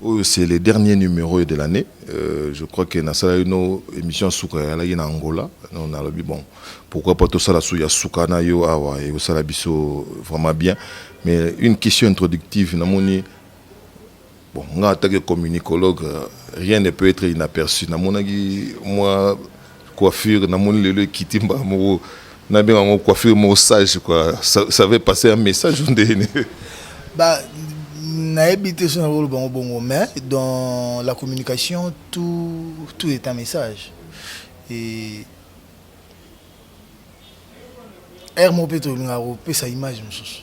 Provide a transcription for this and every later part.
Oyo c'est le dernier numero de l'annee euh, je crois que nasala ino émission ya suka eyalaki na angola no nalobi bon pourquoi pas tosala su ya suka na yo awa ekosala biso vraiment bien mais une question introductive namoni bon nga atake communicologue rien ne peut être inaperçu namonaki mwa coiffure na moni lelo ekiti mbala moko na benga ngo coiffure moko sage quoi ça, ça veut passer un message ndeni ba nayebi te so nakoloba bango bongo mais dans la communication tout, tout est un message et aire moko mpe tolingaka kopesa image mosusu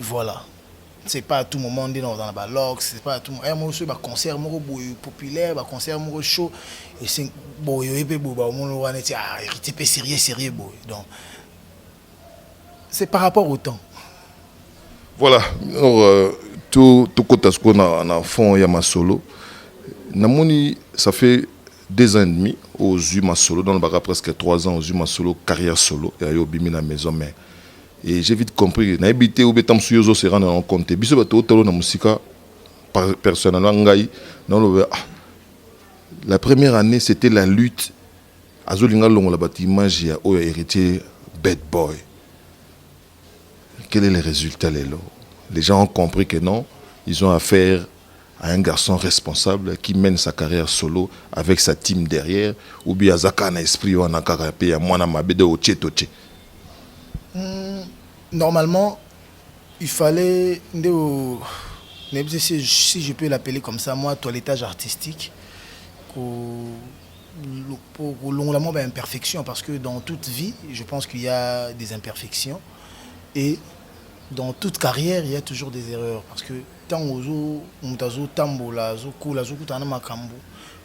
Voilà c'est pas à tout moment nde nakozala na ba lox c'est pas à tout moment moko soki ba concert moko boye populaire ba concert moko chaud ese boye oye mpe boye baomona wana eti ah héritier mpe sérieux sérieux boye donc c'est par rapport au temps voilà alors euh, to tokota sikoyo na, na fond ya masolo namoni ça fait deux ans et demi ozwi masolo dans le baka presque trois ans ozwi masolo carrière solo ya yo obimi na maison mais Et j'ai vite compris, na ebité ou betam suyo zo se rendre en compte. Biso ba to tolo na musika personnellement ngai na lobe ah la première année c'était la lutte azo linga longo la bat image ya oyo héritier bad boy. Quel est le résultat lelo? Les gens ont compris que non, ils ont affaire à un garçon responsable qui mène sa carrière solo avec sa team derrière ou bien aza kaka na esprit wana kaka mpe ya mwana mabe de otie totie Hmm, normalement, il fallait nde o- nayebi te si, si je peux l'appeler comme ça, moi, toilettage artistique, ko- lo- po- kolongola mwa baimperfection, parce que dans toute vie, je pense qu'il y a des imperfections, et dans toute carrière, il y a toujours des erreurs, parce que ntango ozo moto azotambola azokola azokutana na makambo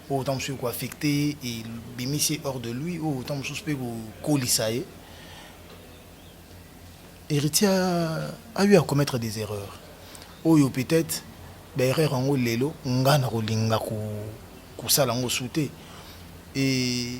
oyo ntango mosusu ekoaffecte ye ebimisi ye hors de lui oyo ntango mosusu mpe kokolisa ye héritier a eu à commettre des erreurs oyo peut-être baerreur yango lelo ngai nakolinga kosala yango su te e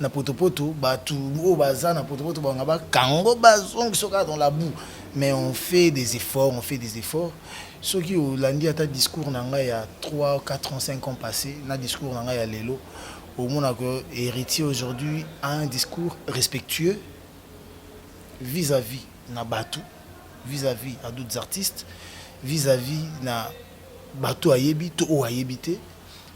na potopoto bato oyo baza na potopoto banga bakango bazongisa kaka dans la boue mais on fait des efforts on fait des efforts soki olandi ata discours na ngai ya 3 4 ans 5 ans passé na discours na ngai ya lelo omonaka héritier aujourd'hui a un discours respectueux vis-à-vis -vis na bato vis-à-vis -vis à d'autres artistes vis-à-vis -vis na bato ayebi to oyo ayebi te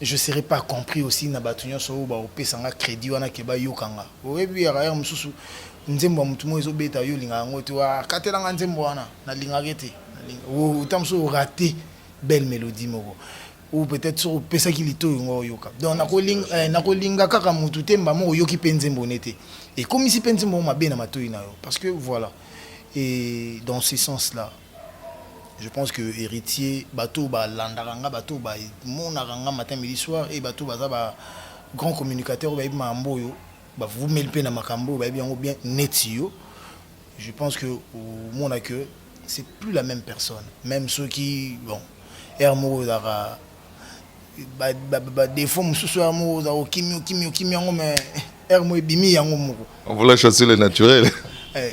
je serai pas compris aussi na bato nyonso oyo baopesa nga crédit wana ke bayoka nga oyebi ya rayar mosusu nzembo ya motu moko ezobeta yo olingaka yango te akatela nga nzembo wana nalingaka ete ota mosusu orate belle mélodie moko ou peut-être soki opesaki litoyo ngo oyoka donc nakolinga eh, nakolinga kaka motu te mbamo oyoki mpe nzembo ne te ekomisi mpe nzembo mabe na matoi na yo parce que voilà et dans ce sens là Je pense que héritier bateau ba landaka nga bateau ba monaka nga matin midi soir et bateau baza ba grand communicateur ba yebi mambo oyo ba vous mel pe na makambo ba yebi yango bien net yo je pense que au mona que c'est plus la même personne même ceux qui bon er moko ezaka ba ba ba défaut mususu er moko za okimi okimi okimi yango mais er mo ebimi yango moko on voulait chasser le naturel eh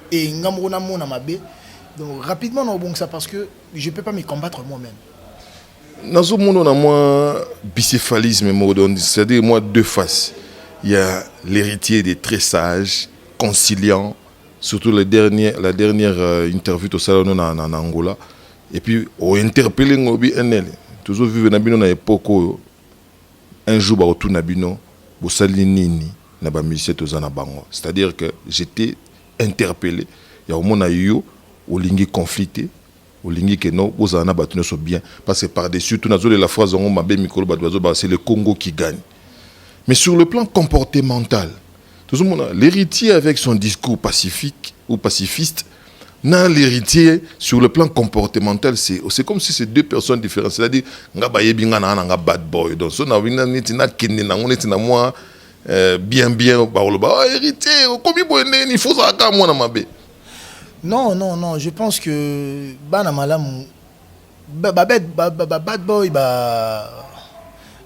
et nga moko namona mabe donc rapidement naobongisa parce que je peux pas me combattre moi-même nazomona na mwa bicéphalisme moko donc c'est-à-dire mwa deux faces il y a l'héritier des très sages conciliant surtout le dernier, la dernière euh, interview tosala no na, na, na angola et puis ointerpele ngobi enele tozovivre na bino na époque oyo Un jour bako tuna bino bosali nini na ba musiciens toza na bango c'est à dire que j'etais interpelle ya komona yo olingi conflit te olingi que non bozala na batu nioso bien parce que par dessus tout nazo lela phrase yango mabe mikolo batu bazo loba c'est le Congo qui gagne mais sur le plan comportemental tozomona l'héritier avec son discours pacifique ou pacifiste na l'héritier sur le plan comportemental c'est c'est comme si c'est deux personnes différentes c'est-à-dire nga bayebi nga na nga bad boy donc so na winga neti na kende na ngo neti na moi euh, bien bien bakoloba oh, héritier okomi boye ndenge nini fozala kaka mwana mabe non non non je pense que bana malamu ba ba ba bad boy ba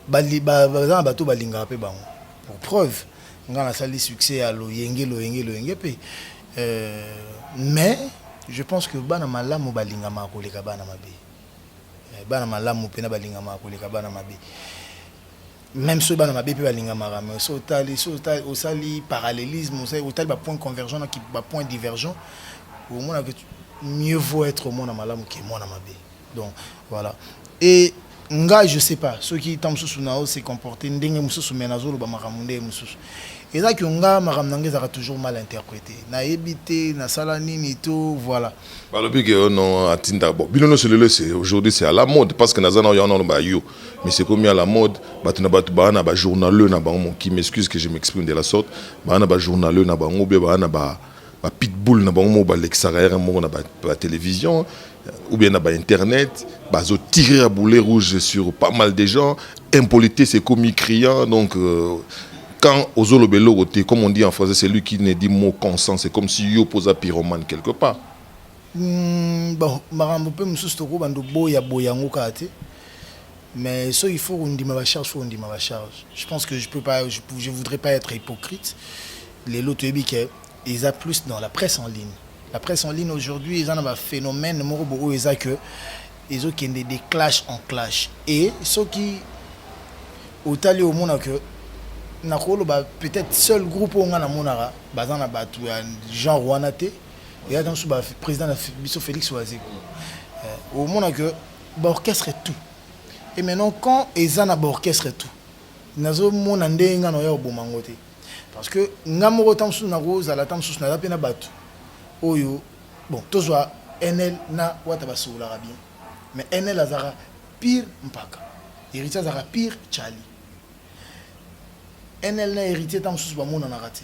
ba baza na bato balingaka mpe bango pour preuve ngai nasali succès ya loyenge loyenge loyenge mpe euh, mais je pense que bana malamu balingamaka koleka bana mabe eh, bana malamu mpena balingamaka koleka bana mabe Même soki bana mabe mpe balingamaka mais soki otali soki osali parallélisme otali ba point convergent na ba point divergent omona que mieux vaut être mwana malamu ke mwana mabe donc voilà et nga je sais pas soki ntango mosusu nao se comporter ndenge mosusu mais nazoloba makambo ndenge mosusu eza ke nga makambo na nga ezalaka toujours mal interprété nayebi te nasala nini to voilà balobi ke oh non atinda bon bino nyonso lelo aujourd'hui c'est à la mode parce que naza na yo wana oloba yo mais c'est comme à la mode bato na bato baa na bajournaleux na bango moki m'excuse que je m'exprime de la sorte baa na bajournaleux na bango be baa na ba bapitbull na bango moko balekisaka yaka moko na batelevizio ou bien na bainternet bazotire ya boulet rouge sur pas mal de gens impolitesse ekomi criant donc euh, quand ozoloba eloko te comme on dit en français c'est lui qui ne dit mot consent c'est comme si yo mpoza pyromane quelque part Bon, makambo mpe mosusu tokoki bando boya boya yango kaka te mais so il faut kondima bacharge faut kondima bacharge je pense que je peux pas je, je voudrais pas être hypocrite lelo toyebi ke eza plus dans la presse en ligne la presse en ligne aujourd'hui eza na baphénomène moko bokoyo eza que ezokende de clash en clash et soki otali omona que nakoloba peut-être seul groupe oyo ngai namonaka baza na bato ya genre wana te ya dans ba président biso Félix Wazeko euh, au monde que ba orchestre tout et maintenant quand eza na ba orchestre tout nazo mona ndenge nga na ya oboma ngo te parce que nga moko tant sous na ko zala tant sous na la pena batu oyo bon tozwa NL na wata basobolaka bien mais NL azaka pire mpaka héritier azaka pire Charlie NL na héritier tant sous ba mona na raté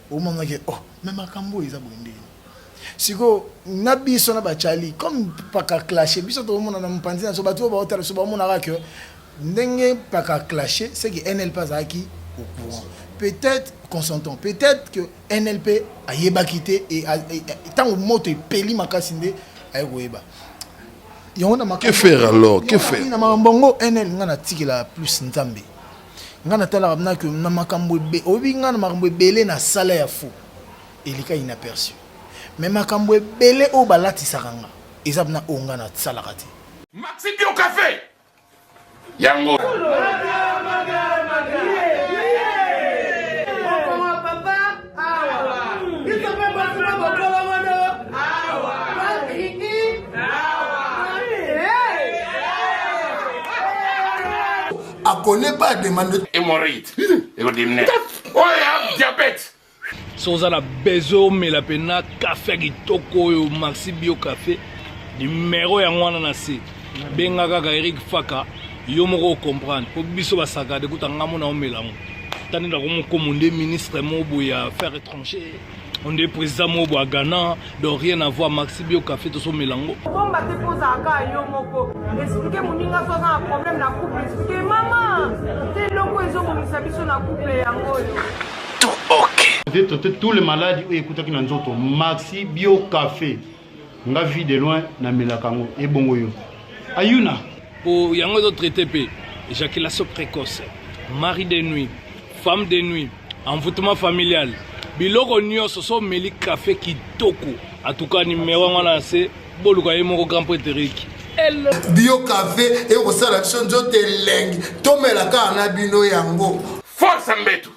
omonaki oh mais makambo oyo eza boye ndenge sikoyo na biso na bacali comme paka clashe biso tokomona na mopanzi na biso bato oyo baotala biso bamonaka ke ndenge paka clashe seke nlp azalaki au courant peut-être consentons peut-être que nlp ayebaki te ntango moto epeli makasi nde aye koyeba yango na makambo alors que faire na makambo yango nl ngai natikela plus nzambe ngai natalaka mna ke na makambo oyebi ngai na makambo ebele na sala ya fo elika inaperçu me makambo ebele oyo balatisaka nga eza mna oyo ngai nasalaka te maxi bio cafe yango a connaît pas demande hémorroïde ekodimine oyo ya diabète so oza na besoin omela mpena kafe ya kitoko oyo maxi bio kafe nimero yango wana na se benga kaka erik faka yo moko ocomprendre mpo biso basakade kuta ngambo na omela yango tani nakomokomo nde ministre moko boye ya faire étranger on est président mobo à Ghana donc rien à voir maxi bio café to so melango bomba te poza ka yo moko expliquer muninga to na problème na couple expliquer maman te longo ezo bomisa biso na couple yango yo tout ok peut-être toutes les maladies oyo ekutaki na nzoto maxi bio café nga vie de loin na melaka ngo ebongo yo ayuna po yango ezo traite pe éjaculation précoce mari de nuit femme de nuit envoûtement familial biloko nyonso so omeli kafe kitoko atuka nimero yango na se boluka ye moko grand preteriki bio kafe ekosala biso nzoto elengi tomela kaka na bino yango force mbetu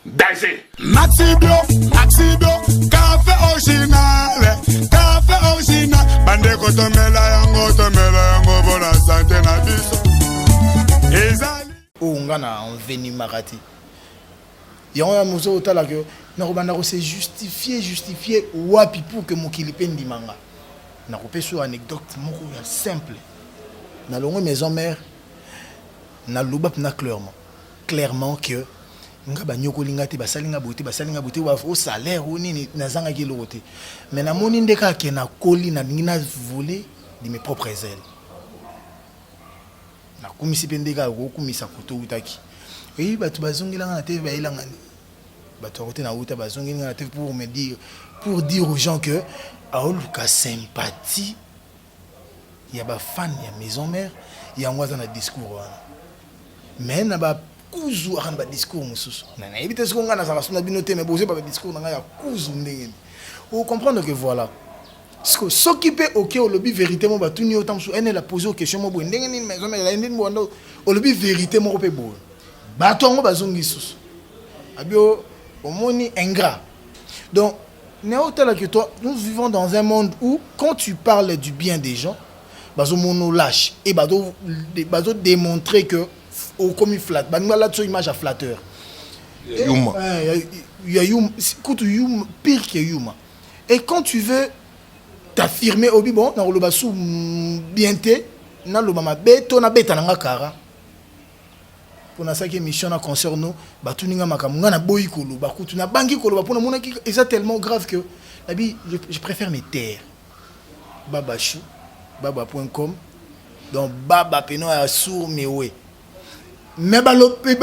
Danger. Maxibio, Maxibio, café original, café original. Bande kotomela yango, tomela yango bona santé na biso. Ezali. Oh nga na enveni makati. Yango ya mozo otala que nakobanda ko se justifier, justifier wapi pour que mokili pe ndimanga. Nakopesa anecdote moko ya simple. Na longo maison mère na loba na clairement. clairement que nga banyokoli nga te basali nga boye te basali nga boye te o salaire o nini nazangaki eloko te mais namoni nde kaka ke nakoli nalingi na voler de mes propres ailes nakumisi mpe nde kaka kokumisa koto outaki eyi bato bazongelanga na tv bayelanga nini bato yango te nauta bazongeli nga na tv pour me dire pour dire aux gens que aoluka sympathie ya ba fan ya maison mère yango aza na discours wana mais na ba kuzu aka na ba discours mosusu na nayebi te soki ngai nazalaka so na bino te mais bozo ba discours na ngai ya kuzu ndenge o comprendre que voilà siko soki mpe oke olobi verité moko batuni yo ntango mosusu ene la pose question moko boye ndenge nini maison mère ezali ndini boanda olobi verité moko mpe boye bato yango bazongi lisusu abio omoni ingrat donc Neo tala que toi, nous vivons dans un monde où quand tu parles du bien des gens, bazo mono lâche et bazo bazo démontrer que au comme flatte, ba ngala tso image à flatteur. Yuma. Euh, ya yuma, écoute yuma pire que yuma. Et quand tu veux t'affirmer obi bon na loba sou bien te, na loba mabe to na beta na kara. pona saki émission na concert no batuni nga makambo nga naboyi koloba kutu nabangi koloba mpo namonaki eza tellement grave que nabi je, je préfère me taire babachou baba point com donc baba peno ya sour mewe mais balobi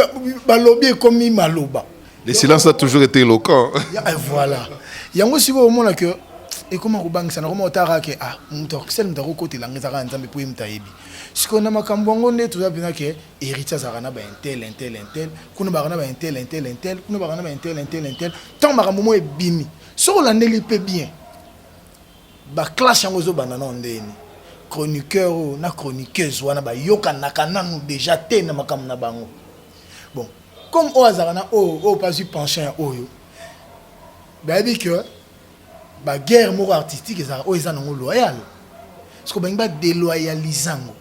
balobi ekomi maloba le silence a toujours été éloquent eh, voilà yango sikoyo omona que ekoma kobangisa nakoma otara ke ah moto akisali moto akokotela nga ezaka ya nzambe mpo ye moto ayebi sikoyo na makambo yango nde toza mpena ke héritier azalaka na baintel intel intel kuna baka na baintel intel intel kuna baka na baintel intel intel ntango makambo moko ebimi soki olandeli mpe bien baclasse yango ezobanda nao ndeni chroniqueur oyo na chroniqueuse wana bayokanaka nanu deja te na makambo na bango bon comme oyo azalaka na oyo oyo mpe azwi pension ya oyo bayebi ke ba guerre moko artistique ezalaka oyo eza nango loyal soki balingi ba deloyaliza yango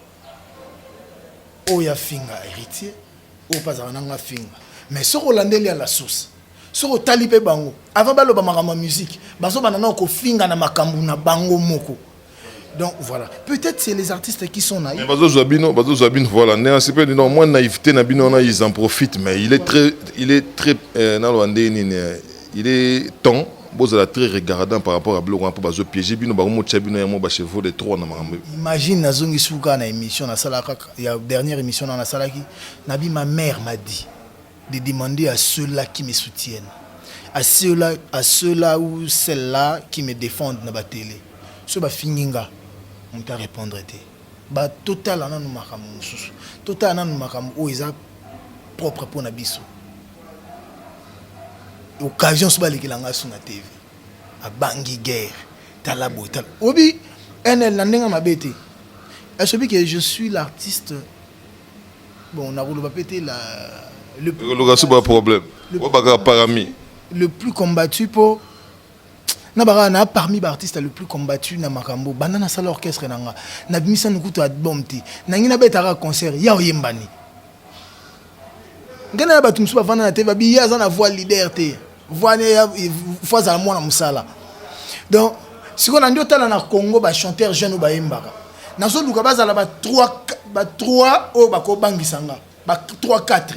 oyo afinga héritier oyo mpe azalaka nango afinga mais soki olandeli ya la source soki otali mpe bango avant baloba makambo ya musique bazobanda nao kofinga na makambo na bango moko donc voilà peut-être c'est les artistes qui sont naïfs bazozwa bino bazozwa bino voilà ndenge asepeli non mwa naïveté na bino wana ils en profitent mais il est très il est très euh, naloba ndenge nini euh, il est temps bozala très regardant par rapport à biloko wana mpo bazopiége bino bango motya bino yango bachevaux de trois na makambo imagine nazongi suka na émission nasalaka ya dernière émission na nasalaki nabi ma mère m'a dit de demander à ceux là qui me soutiennent à ceux là, à ceux là ou celles là qui me defendent na ba tele soki bafingi nga moto a repondre te ba totala nanu makambo mosusu totala nanu makambo oyo eza propre mpo na biso occasion so balekela nga so na tv abangi guerre tala boye tala obi nl na ndenge mabe te esobi ke je suis l'artiste Bon, na koloba pe te la le plus koloka sous ba problème. Ko baka parami. Le plus combattu po na baka na parmi ba artistes le plus combattu na makambo. Banda na sala orchestre na nga. Na bimisa na kutu album te. Na ngi na betaka concert ya oyembani. Ngana ya bato mosusu bavanda na te babi ye aza na voix leader te. Vwane ya faut azala mwana musala. Donc siko na ndio tala na Congo ba chanteur jeune ba yembaka. Nazo luka bazala ba 3 ba 3 oyo bako bangisa nga. Ba 3 4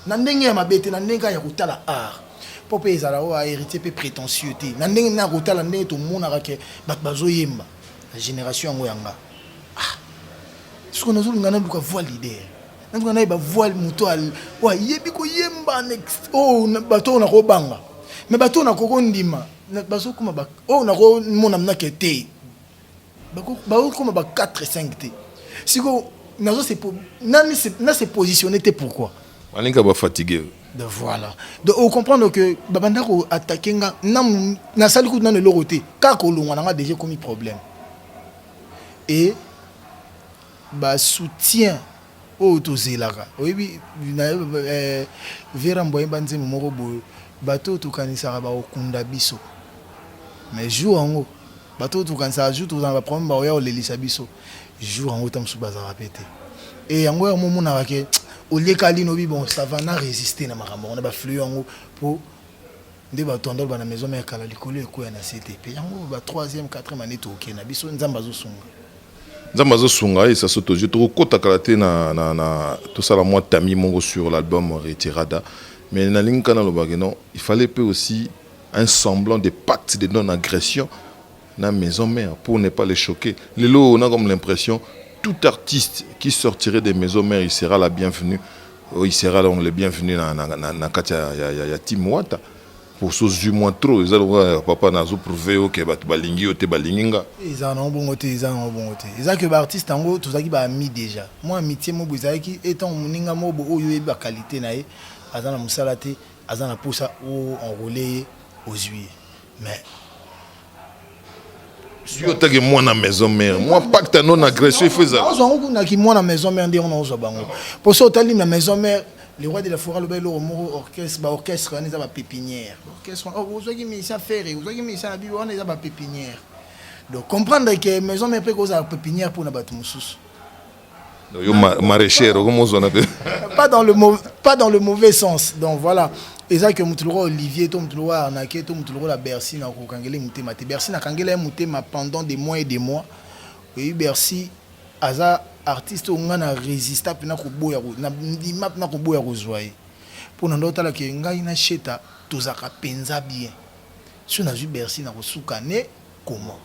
na ndenge ya mabete na ndenge ya kotala art. Po pe ezala oyo héritier pe prétentieux te. Na ndenge na kotala ndenge to monaka ke bato bazo yemba. La génération yango ya nga. Ah. Siko nazo luka na luka voix leader. Nanga naye ba voile moto oyo ayebi koyemba next oyo oh, bato oyo nakobanga me bato oyo nakoko ndima bazokoma oyo oh, nakomona mnake te bakokoma ba 4 5 te sikoyo nazo na se positionne te pourquoi balinga bafatigue de voilà donc ocomprendre que babanda ko attaque nga nasali kutu nano eloko te kaka kolongwa na nga deja ekomi problème et ba soutien oyo tozelaka oyebi Vera mbua yemba nzembo moko boye bato oyo tokanisaka bakokunda biso mais jour yango bato oyo tokanisaka jour tozala na ba problème bakoya kolelisa biso jour yango ta mosusu bazalaka pe te e yango yango omonaka ke olieka lino bi bon ça va na resister na makambo yango na ba flux yango po nde bato ya ndoloba na maison mère kala likolo ekweya na se te pe yango ba troisième quatrième année tooke na biso nzambe azosunga nzambe azosunga esa so tozwi tokokota kala te na, na, na tosala mwa tami moko sur l'album retirada mais nalingi nka nalobaki non il fallait mpe aussi un semblant de pacte de non agression na maison mère pour ne pas les choquer lelo oyo na comme l'impression tout artiste qui sortirait de maison mère il sera la bienvenue oh, il sera donc le bienvenu na, na, na, na kati ya, ya, ya, ya team wata osozwi mwa trop eza lokola ya papa nazo prouve yo ke bato balingi yo te balingi nga eza nango bongo te eza nango bongo te eza ke baartiste yango tozalaki baami déjà mwa amitie moko ezalaki etango moninga moko oyo oyebi bakalite na ye aza na mosala te aza na mposa o enrole ye ozwi ye mais soki otaki mwana maison mère mwa pacte ya non agression ifo ezala ozwa yango kuna ki mwana maison mère nde yango na ozwa bango mpo soki otali na maison mère le roi de la forêt alobaki eloko moko orchestre ba orchestre wana eza ba pépinière orchestre oh, ozwaki musicien ferre ozwaki musicien na bibo wana eza ba pépinière donc comprendre que maison mère mpe kozala pépinière mpo na bato mosusu yo maraîchère okomi ozwana mpe pas dans le pas dans le mauvais sens donc voilà eza ke motu lokola olivier to motu lokola arnake to motu lokola bercy na kokangela ye motema te bercy nakangela ye motema pendant des mois et des mois oyebi bercy aza artiste oyo ngai na résista mpena koboya nandima mpena koboya kozwa ye mpo na ndo otala ke ngai na sheta tozalaka mpenza bien so nazwi bercy na kosuka ne comment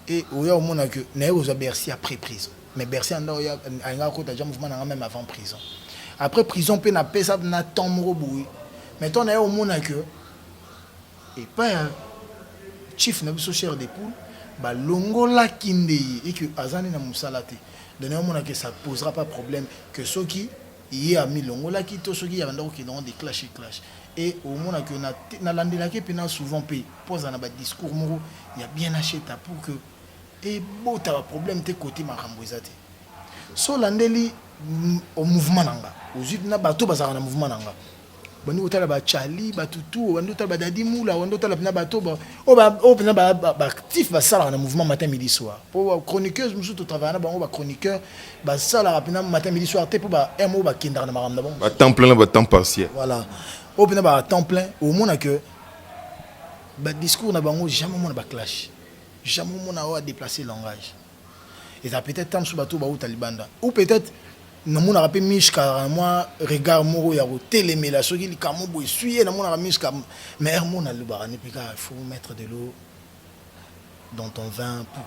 Et oya omona que naye kozwa Bercy après prison. Mais Bercy anda oya alinga kota déjà mouvement nanga même avant prison. Après prison pe na pesa na temps moko boye. Mais temps naye omona que et pas ya chief na biso cher des poules ba longola kinde ye et que azani na musala te. Donc naye omona que ça posera pas problème que soki ye ami longolaki to soki ya banda ko kende de clash et clash et au mona que na na landela ke pena souvent pe poza na ba discours moko ya bien acheta pour que et bota ba problème te côté makambo ezate so landeli au mouvement nanga ozui na bato bazaka na mouvement nanga bandi kotala bachali batutu obandi otala badadi mula obandi otala mpena bato oyo mpena baactif basalaka na mouvement matin midi soir mpo bachroniqueuse mosusu totravaya na bango bachroniqueur basalaka mpena matin midi soir te mpo ba m oyo bakendaka na makambo na bango batemp plein na batemp partiel voilà oyo mpena batemp plein omona que badiscours na bango jamais omona baclash jamais omona oyo adeplace langage eza peut-être temps mosusu bato bauta libanda ou peut-être namonaka mpe mishka mwa regard moko ya kotelemela soki likambo boye eswi ye namonaka mishka mais heure mona alobaka nde mpe kaka il faut mettre de l'eau dans ton vin pour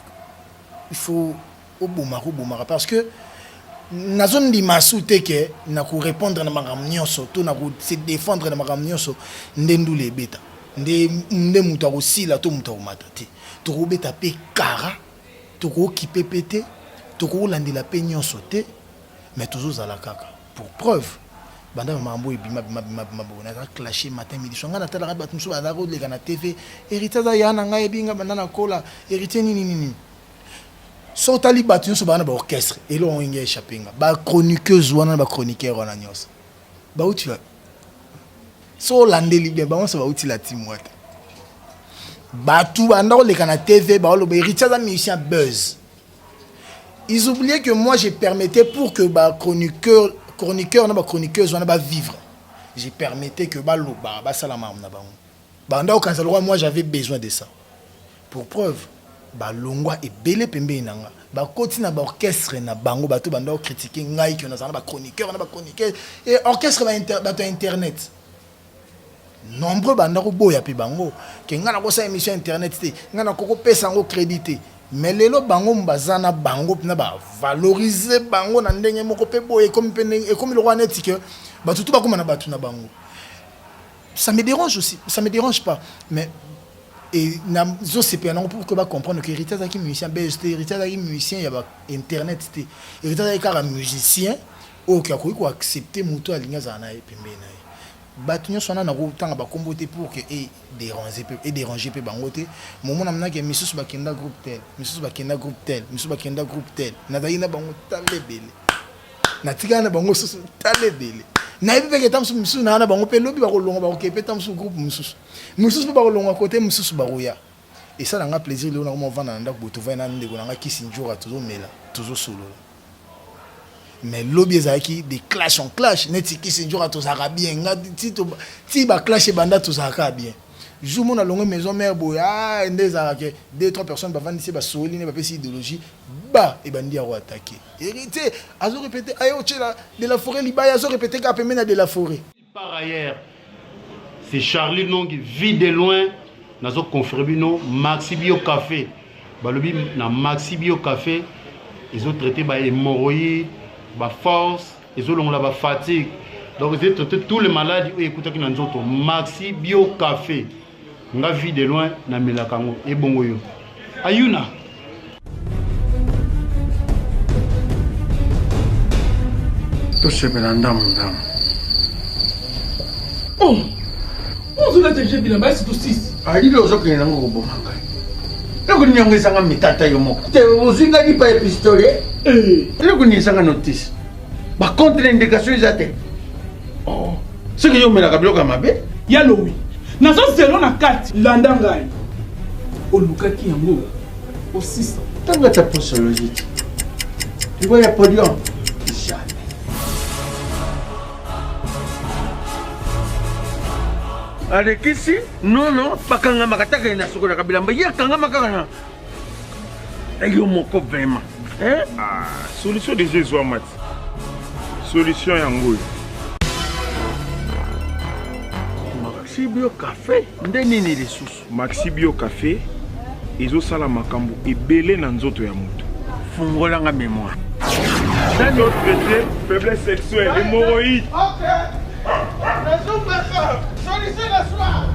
il faut obomaka obomaka parce que nazondima su te ke na korépondre na makambo nyonso to na kose défendre na makambo nyonso nde ndula ebeta nde nde moto akosila to moto akomata te tokobeta mpe kara Tokookipe pe te, tokolandela pe nionso te mais tozozala kaka. Pour preuve, banda ba makambo oyo ebima bima bima bima boye naza clashe matin midi soir. Ngai natalaka batu mosusu bazalaka koleka na TV, Heritier aza yaya na ngai ayebi ngai banda nakola, Heritier nini nini nini. Soki otali batu nionso baza na ba orchestre, eloko yango elingi e echapper ngai. Ba chroniqueuses wana na ba chroniqueurs wana nionso. bauti wapi so olandeli bien bango nyonso bauti la team wata bato banda koleka na tv baoloba héritier aza musicien buzz ils oubliaient que moi j'ai permettais pour que bachroniqueur chroniqueur na bachroniqueuse wana bavivre j'ai permettais que baloba basala makambo na bango Banda okanisa lokola moi j'avais besoin de ça. Pour preuve, balongwa ebele pembeni na nga bakoti na baorchestre na bango bato banda okritike ngai kio nazala na bachroniqueur na bachroniqueuse e orchestre bato ya internet nombreux banda koboya mpe bango ke ngai nakosala émission internet te ngai nakokopesa yango crédit te mais lelo bango baza na bango mpena bavalorize bango na ndenge moko mpe boye ekomi lokola neti ke bato tu bakóma na bato na bango ça me dérange aussi ça me dérange pas mais et nazosepela nango pour que bacomprendre que héritier azalaki musicien belge te héritier azalaki musicien ya ba internet te héritier azalaki kaka musicien oyo oke akoki koaccepte moto alingi azala na ye pembeni na ye bato nyonso wana nakotanga bakombo te pour que edérange mpe bango te momo na monake misusu bakenda groupe tel misusu bakenda groupe tel misusu bakenda groupe tel nazalaki na bango tala ebele natikala na bango susu tala ebele nayebi mpe keta mosusu mosusu naa na bango mpe lobi bakolonga bakokee mpe ta mosusu groupe mosusu mosusu mpe bakolonga kote mosusu bakoya esala nga plaisir lelo nakoma ovanda na ndako boye tovai na ndeko na nga kisi njora tozomela tozosolola mais lobi ezalaki de clash en clash neti kisi njora tozalaka bien nga ti baclash ebanda tozalaka bien Jour mona longue maison mère boye ah nde ezalaka ke deux trois personnes bavandisi ba sololi ne bapesi ideologie ba ebandi ya ko attaquer héritier azo répéter ayo tshela de la forêt libaya azo répéter ka pembeni ya de la forêt par ailleurs c'est Charlie Nongi vie de loin nazo confirmer bino Maxi Bio Café balobi na Maxi Bio Café ezo traiter ba hémorroïdes ba force ezolongola ba fatigue donc ezali traite tous les maladies oyo ekutaki na nzoto maxi bio café nga vie de loin namelaka yango ebongo yo ayuna tosepela ndambo ndambo oh. Ozo la teje bila ba situ sisi. Ali lo zo kina ngo bo manga. Loko ni yango esanga mitata yo moko. Te ozwi nga lipa ya pistolet. Eh. Loko ni esanga notice. Ba contre indication eza te. Oh. Soki yo melaka biloko ya mabe. Ya lowi. Nazo zelo na kati. Landa ngai. Olukaki yango. Osisa. Tanga ta posologie. Ngoya podium. alekisi nono bakangamaka ataka ye na sokolaka bilamba ye akangama kaka na yo moko vraimen eh? ah, solution deja ezwama ti solution yango oyo maxibio cafe nde nini lisusu Maxi Bio Cafe ezosala makambo ebele na nzoto ya moto. Fungolanga memoire. D'un autre côté, faiblesse sexuelle, hémorroïde. Ok. La soupe de soeur, solution le soir.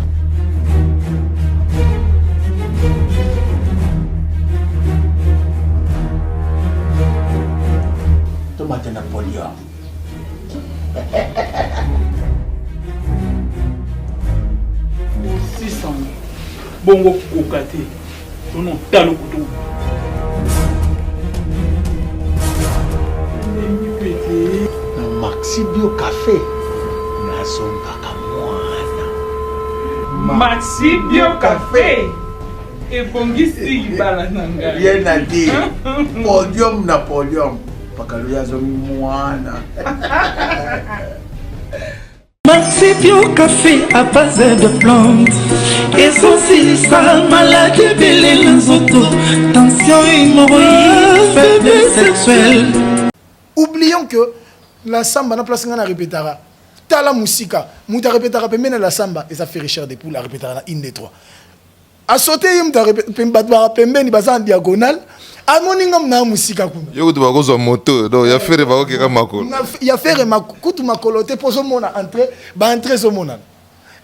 Tomate Napoléon. sango bongo kokoka te tona otalo kutu na maxi bio cafe nazongaka mwana maxi bio cafe ebongisi libala na ngai bien na te podium na podium Pakalo ya zongi mwana. Marsipio café à base de plantes ezosilisa maladi ebele na nzoto tension hémorroïde faiblesse sexuelle oublions que la samba na place ngai na repetaka tala mosika moto arepetaka pembeni ya la samba eza ferre cher de poule arepetaka na inde 3 a sauter ye mutu bato baka pembeni baza en diagonale amoni nga mna mosika kuna yo kutu bakozwa moto donc ya fere bakokeka makolo ya fere kutu makolo te mpo ozomona entre baentre ezomonana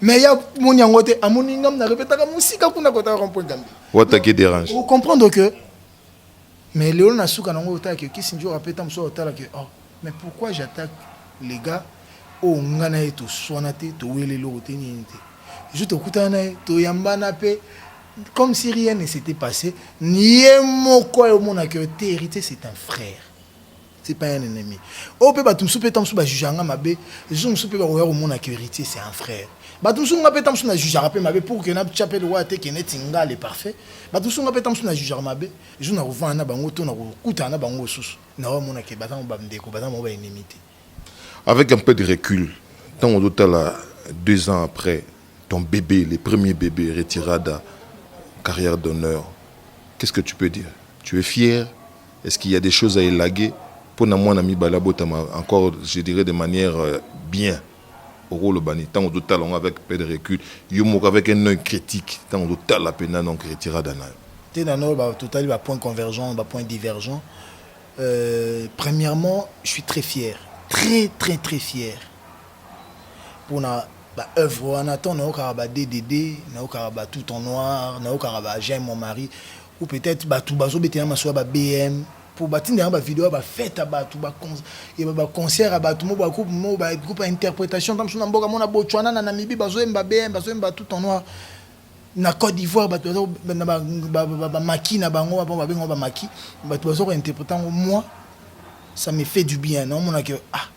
mais ya moni yango te amoni nga mna repetaka mosika kuna kotaka rompoint gambi wataki derange ocomprendre que Mais lelo na suka nango otala que Kissinger ape ta musuwa otala que oh mais pourquoi j'attaque les gars oyo oh, nga na ye toswana te towele eloko te nini te jour tokutana na ye toyambana mpe comme si rien ne s'était passé ye moko ayomonaka yo te héritier c'est un frère c'est pas un ennemi oyo oh, mpe bato mosusu mpe ntango mosusu bajuge yanga mabe jour mosusu mpe bakoya komona que héritier c'est un frère bato mosusu nga mpe ntango mosusu najugeaka mpe mabe pour que natya mpe lokola te ke neti nga le parfait bato mosusu nga mpe ntango mosusu najugeaka mabe jour nakovanda na bango to nakokutana na bango mosusu naoya mona ke baza bango bandeko baza bango baennemi te avec un peu de recul ntango ozotala deux ans après ton bébé le premier bébé retirada carrière d'honneur qu'est ce que tu peux dire tu es fier Est-ce qu'il y a des choses à élaguer pour na mwana mibale abotama encore je dirais de manière euh, bien okoloba nini ntango ozotala yango avec peu de recul yo moko avec un œil critique ntango ozotala mpenza donc retirada na yo te nano totali bapoint convergent bapoint divergent euh, premièrement je suis très fier très très très fier mpona baœuvre wana ntango nayokaka ba ddd nayokaka ba tout en noir nayokaka ba j'aime mon mari ou peut-être batu bazobetela masuwa ba bm po batinda yango bavideo ya bafete ya bato baconcert ya bato mo bagroupe mo bagroupe ya interprétation ntango mosusu na mboka mona botswana na namibi bazoyemba bm bazoyemba tout en noir na côte d'ivoire bato bamaki na bango apo babengango bamaki bato baza kointerprete yango moi ça me fait du bien naomonake ah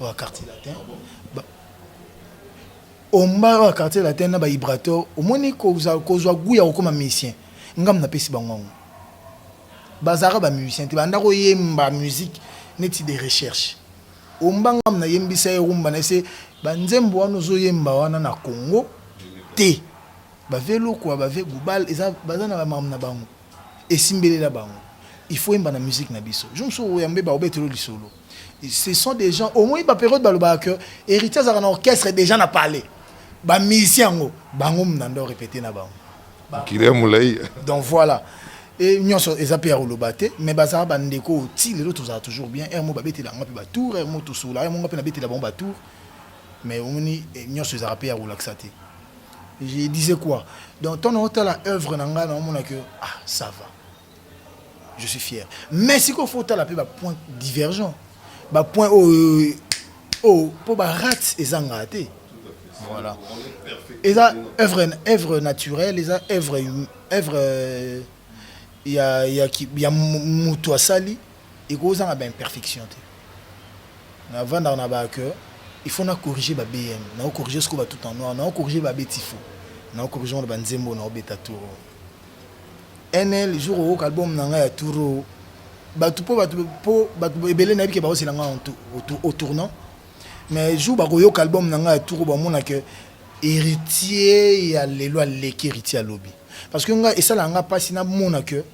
oyo quartier latin omba oyo quartier latin na ba vibrateur omoni kozwa kozwa goût ya kokoma musicien ngambo napesi bango yango bazalaka ba musicien te banda koyemba musique neti de recherche omba ngambo nayembisa ye rumba na ese banzembo wana ozoyemba wana na congo te bave lokwa bave gubal eza baza na bamambo na bango esimbelela bango il faut yemba na musique na biso jour mosusu oyambe baobetelo lisolo ce sont des gens omoni baperiode balobaka que héritier azalaka na orchestre déjà na palais bamusicien yango bango mnanda orepete na bango mokili ya molai donc voilà e nyonso eza mpe ya koloba te mais bazala bandeko oyo ti lelo tozala toujours bien r mo babetela yango mpe batour r mo tosola yango nga mpe nabetela bango batour mais omoni eh, nyonso ezalaka mpe ya kolakisa te je disais quoi donc ntango naotala œuvre na ngai naomona que ah ça va je suis fier mais sikoyo fo otala mpe bapoint divergent bapoint oyo oyo mpo barate ezangaka te voilà eza œuvre œuvre naturelle eza œuvre œuvre ya ya ya moto asali ekozanga ba imperfection te na vanda na ba que il faut na corriger ba BM na ko corriger siko ba tout en noir na ko corriger ba betifo na ko corriger ba nzembo na obeta tour NL jour au album na nga ya tour bato mpo bato mpo bato ebele nayebi ke baosela nga au tournant mais jour bakoyoka album na nga ya tour bamona ke héritier ya lelo aleki héritier ya lobi parce que nga esalaka nga mpasi namona ke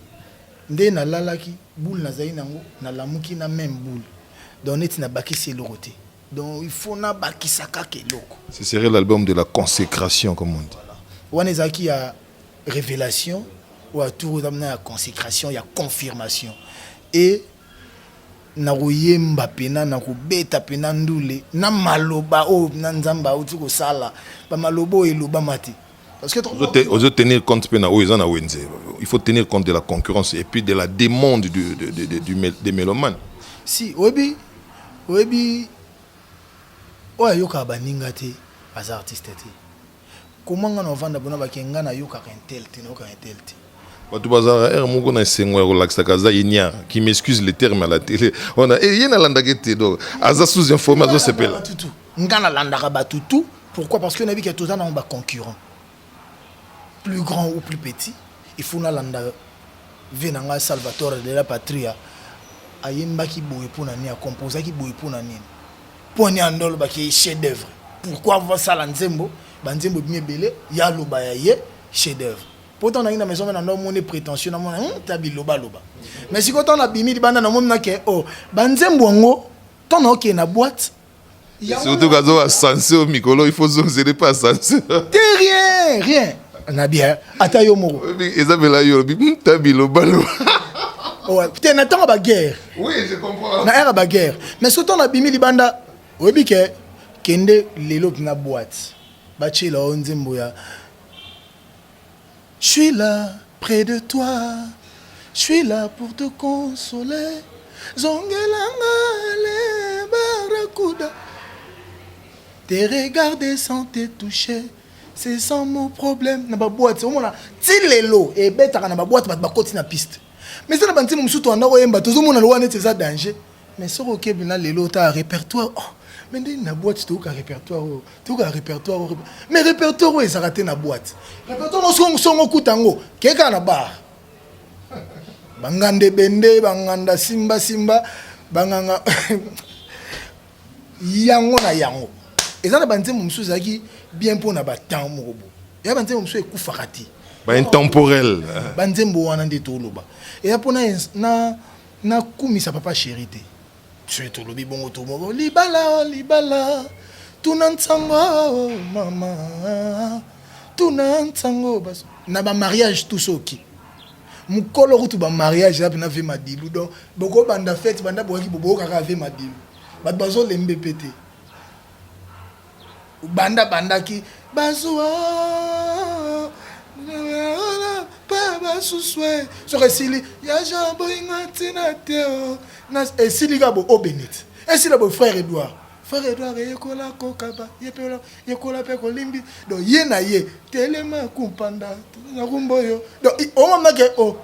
nde nalalaki boule nazali nango nalamuki na meme boule donc neti nabakisi eloko te donc il faut nabakisa kaka eloko ce serait l'album de la consécration comme on dit wana ezalaki ya révélation oyo atour oza mna ya consécration ya confirmation e nakoyemba mpena nakobeta mpena ndule na maloba oyo na nzambe auti kosala bamaloba oyo elobama te ozo tenir compte mpe na oyo eza na wenze il faut tenir compte de la concurrence et puis de la demande du, de, de, de, du, des mélomanes si oyebi oyebi oyo ayokaka baninga te aza artiste te koma nga na ovanda bona bake nga nayokaka intel te nayokaka intel te bato bazalaka ere moko na esengo ya kolakisaka aza inia qui m'excuse le terme à la télé wana e eh, ye nalandaki te donc aza sous informe azosepela nga na landaka batu tout pourquoi parce que nayebi ke toza nango ba concurrent plus grand ou plus petit il faut nalanda vie na ngai salvatore de la patria ayembaki boye mpo na nini akompozaki boye mpo na nini mpo ani andolobaki ye chef d'œuvre pourquoi vasala nzembo banzembo ebimi ebele ye aloba ya ye chef d'œuvre mpo ntango nangi na maison na ndo moni prétentieux namona hmm, ta bilobaloba mais sikoyo ntango nabimi libanda namoni nake o oh, banzembo yango ntango naokende na boite surtout kazo ascenseur mikolo il faut zongzele pas ascenseur te rien rien na bien ata yo moko eza mpela yo olobi hmm, ta bilobalo te na ntango baguerre na ere baguerre mais so ntango nabimi libanda oyebi ke kende lelo na boite batyela yo nzembo ya J'suis là près de toi J'suis là pour te consoler Zongela nga le barracuda Te regarder sans te toucher C'est sans mon problème Na ba boîte omona ti lelo ebetaka na ba boîte bato bakoti na piste mais eza na ba nzembo mosusu toanda koyemba tozomona lowa neti eza danger Mais soki okebi na lelo otala repertoire oh, mais ndenge na boîte toyoka repertoire oyo toyoka repertoire oyo mais repertoire oyo ezalaka te na boîte repertoire nyonso songo okuta yango kei kaka na bar banganda ebende banganda simbasimba banganga yango na yango eza na banzembo mosusu ezalaki bien mpo na batemp moko bo eya banzembo mosusu ekufaka te baintemporel banzembo wana nde toloba eya mpo na Na kumisa papa cheri te. Soki tolobi bongo to moko libala libala tuna nsango mama tuna nsango baso na ba mariage tout soki mukolo kutu ba mariage yapi na vie madilu donc boko banda fete banda boyaki boboka kaka vie madilu bato bazolembe pe te banda bandaki bazua basusue soki esili ya jean boyinga ntina te oh. esili ka bo obenit esila bo frère edouard frère edouard eyekola kokaba yekola mpe kolimbi do ye na ye telema kumpanda nakumba oyo do omamake o oh,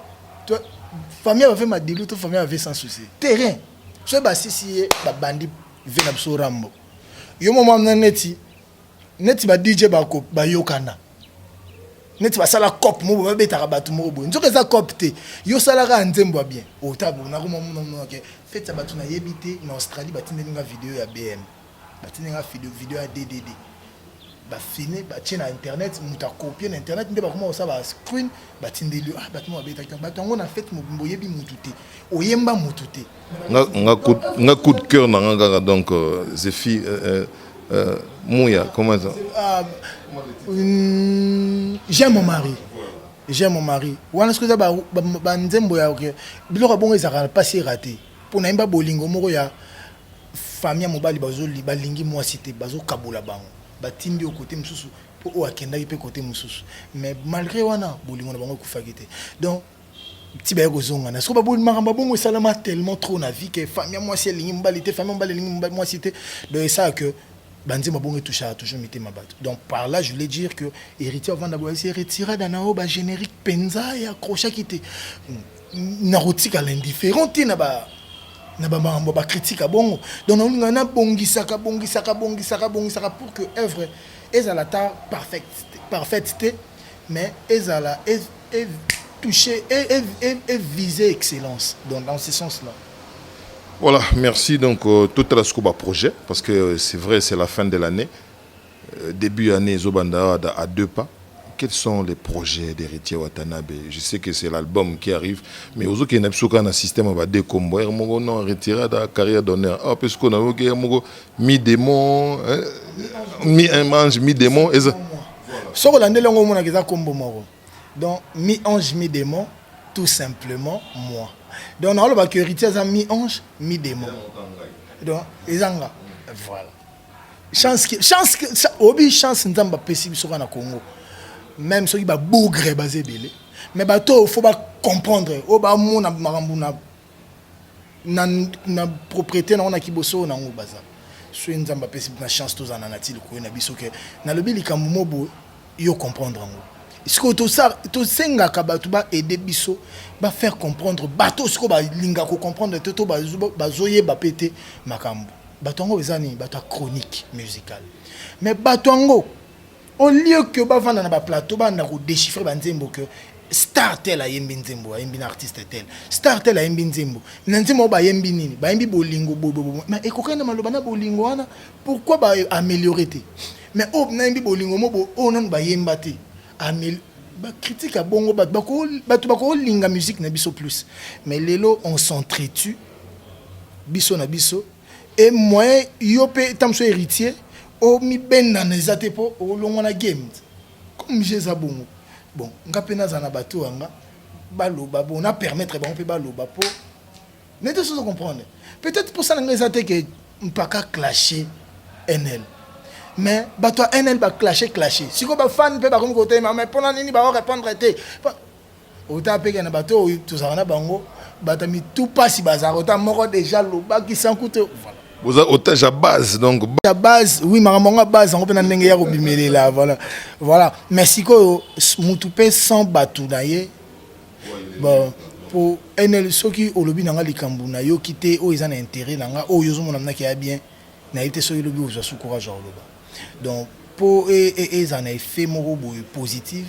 famille bave madilu to famille bave sans souci terrain soki basisi ye babandi ve na biso rambo yo mama na neti neti ba DJ ba ko ba yokana neti ba sala cop mo ba betaka batu mo bo nzoka eza cop te yo sala ka nzembo bien o ta bo na ko mo mo mo ke fete ya batu na yebite na Australie ba tindeli nga video ya BM ba tindeli nga video video ya DDD ba filme batie na internet moto akopie na internet nde bakoma kosala ba screen batindeli ah, bato moko babetaki bato yango na fete mobimba oyebi motu te oyemba motu te nga coup de cœur na nga kaka donc euh, zefi euh, euh, muya comment ça ah, hmm, j'aime mon mari j'aime mon mari wana soki eza banzembo ya biloko ya bongo ezalaka mpasi erate mpo nayemba bolingo moko ya Famille ya mobali bazo balingi mwasi te bazo kabola bango batindi yo kote mosusu mpo oyo akendaki mpe kote mosusu mais malgré wana bolingo na bango ekufaki te donc ti baye kozongana soko baboli makambo ya bongo esalama tellement trop na vie ke famille ya mwasi elingi mobali te famille ya mobali elingi mwasi te donc esala que banzembo bongo etouchaka toujours mitema bato donc par là je voulais dire que héritier avanda boye se retira danao bagénérique mpenza ye accrochaki te hmm. nakotikala indifférent te na ba na bamakambo bakritike bongo donc naolinga nabongisaka bongisaka bongisaka bongisaka pour que œuvre ezala ata parfaite te mais ezala e, e, toucher et, et, et viser excellence donc dans ce sens là voilà merci donc euh, tout à la projet parce que euh, c'est vrai c'est la fin de l'année Debut annee ezo banda awa da à deux pas quels sont les projets d'heritier watanabe je sais que c'est l'album qui arrive mais ozo kende na biso kaka na système ya ba deux kombo heure moko non retirada carrière d'honneur awa pe sikoyo nayoki heure moko mi demon mi un ange mi demon eza soki olandeli yango omonaka eza kombo moko donc mi ange mi demon tout simplement moi donc naolobaka heritier aza mi ange mi demon donc eza nga voilà chance que chance que ça obi chance nzamba pesi biso na Congo même soki ba bougre ba zebele mais ba to faut ba comprendre o oh, ba mona makambo na na na propriété na ona kiboso na ngo baza soki nzamba pesi na chance to zana na ti likoyo na biso que na lobi likambo mobo yo comprendre ngo sikoyo tosengaka bato baede biso bafaire comprendre bato sikoyo balinga kocomprendre te to bazoyeba mpe te makambo bato yango eza nini bato ya chronique musicale mais bato yango au lieu que bavanda na baplateau banda kodéchiffre banzembo que star tel ayembi nzembo ayembi na artiste tel star tel ayembi nzembo na nzembo bayembi nini bayembi bolingo bobobo mais ekokani na maloba na bolingo wana pourquoi ba améliorer te mais oyo oh, nayembi bolingo mo oyo oh, nanu bayemba te bacritique ya bongo bato bakolinga musique na biso plus mais lelo on s'entretue biso na biso e moyen yo mpe ntango mosusu héritier omibendana eza te mpo olongwa na game comme je eza bongo bon nga mpe nazala na bato yanga baloba bon na permettre bango mpe baloba mpo nete sozo comprendre peut-être mposa na ngai eza te ke mpaka clashe nl mais bato ya nl baclashe clashe sikoyo bafane mpe bakomi kotelema mais mpo na nini baorepondre te ota peke na bato oyo tozalaka na bango bato ya mitu mpasi bazalaka ota moko deja lobaki sanku te voilà oza otage ya base donc ya base oui makambo yango ya base yango mpe na ndenge ya kobimelela voilà voilà mais sikoyo motu mpe sans bato na ye bon mpo nl soki olobi na nga likambo nayoki te oyo eza na intérêt na nga oyo ozomona mnaki ya bien nayebi te soki lobi ozwa su courage ya koloba donc mpo ezala e, e, e na effet moko boye positive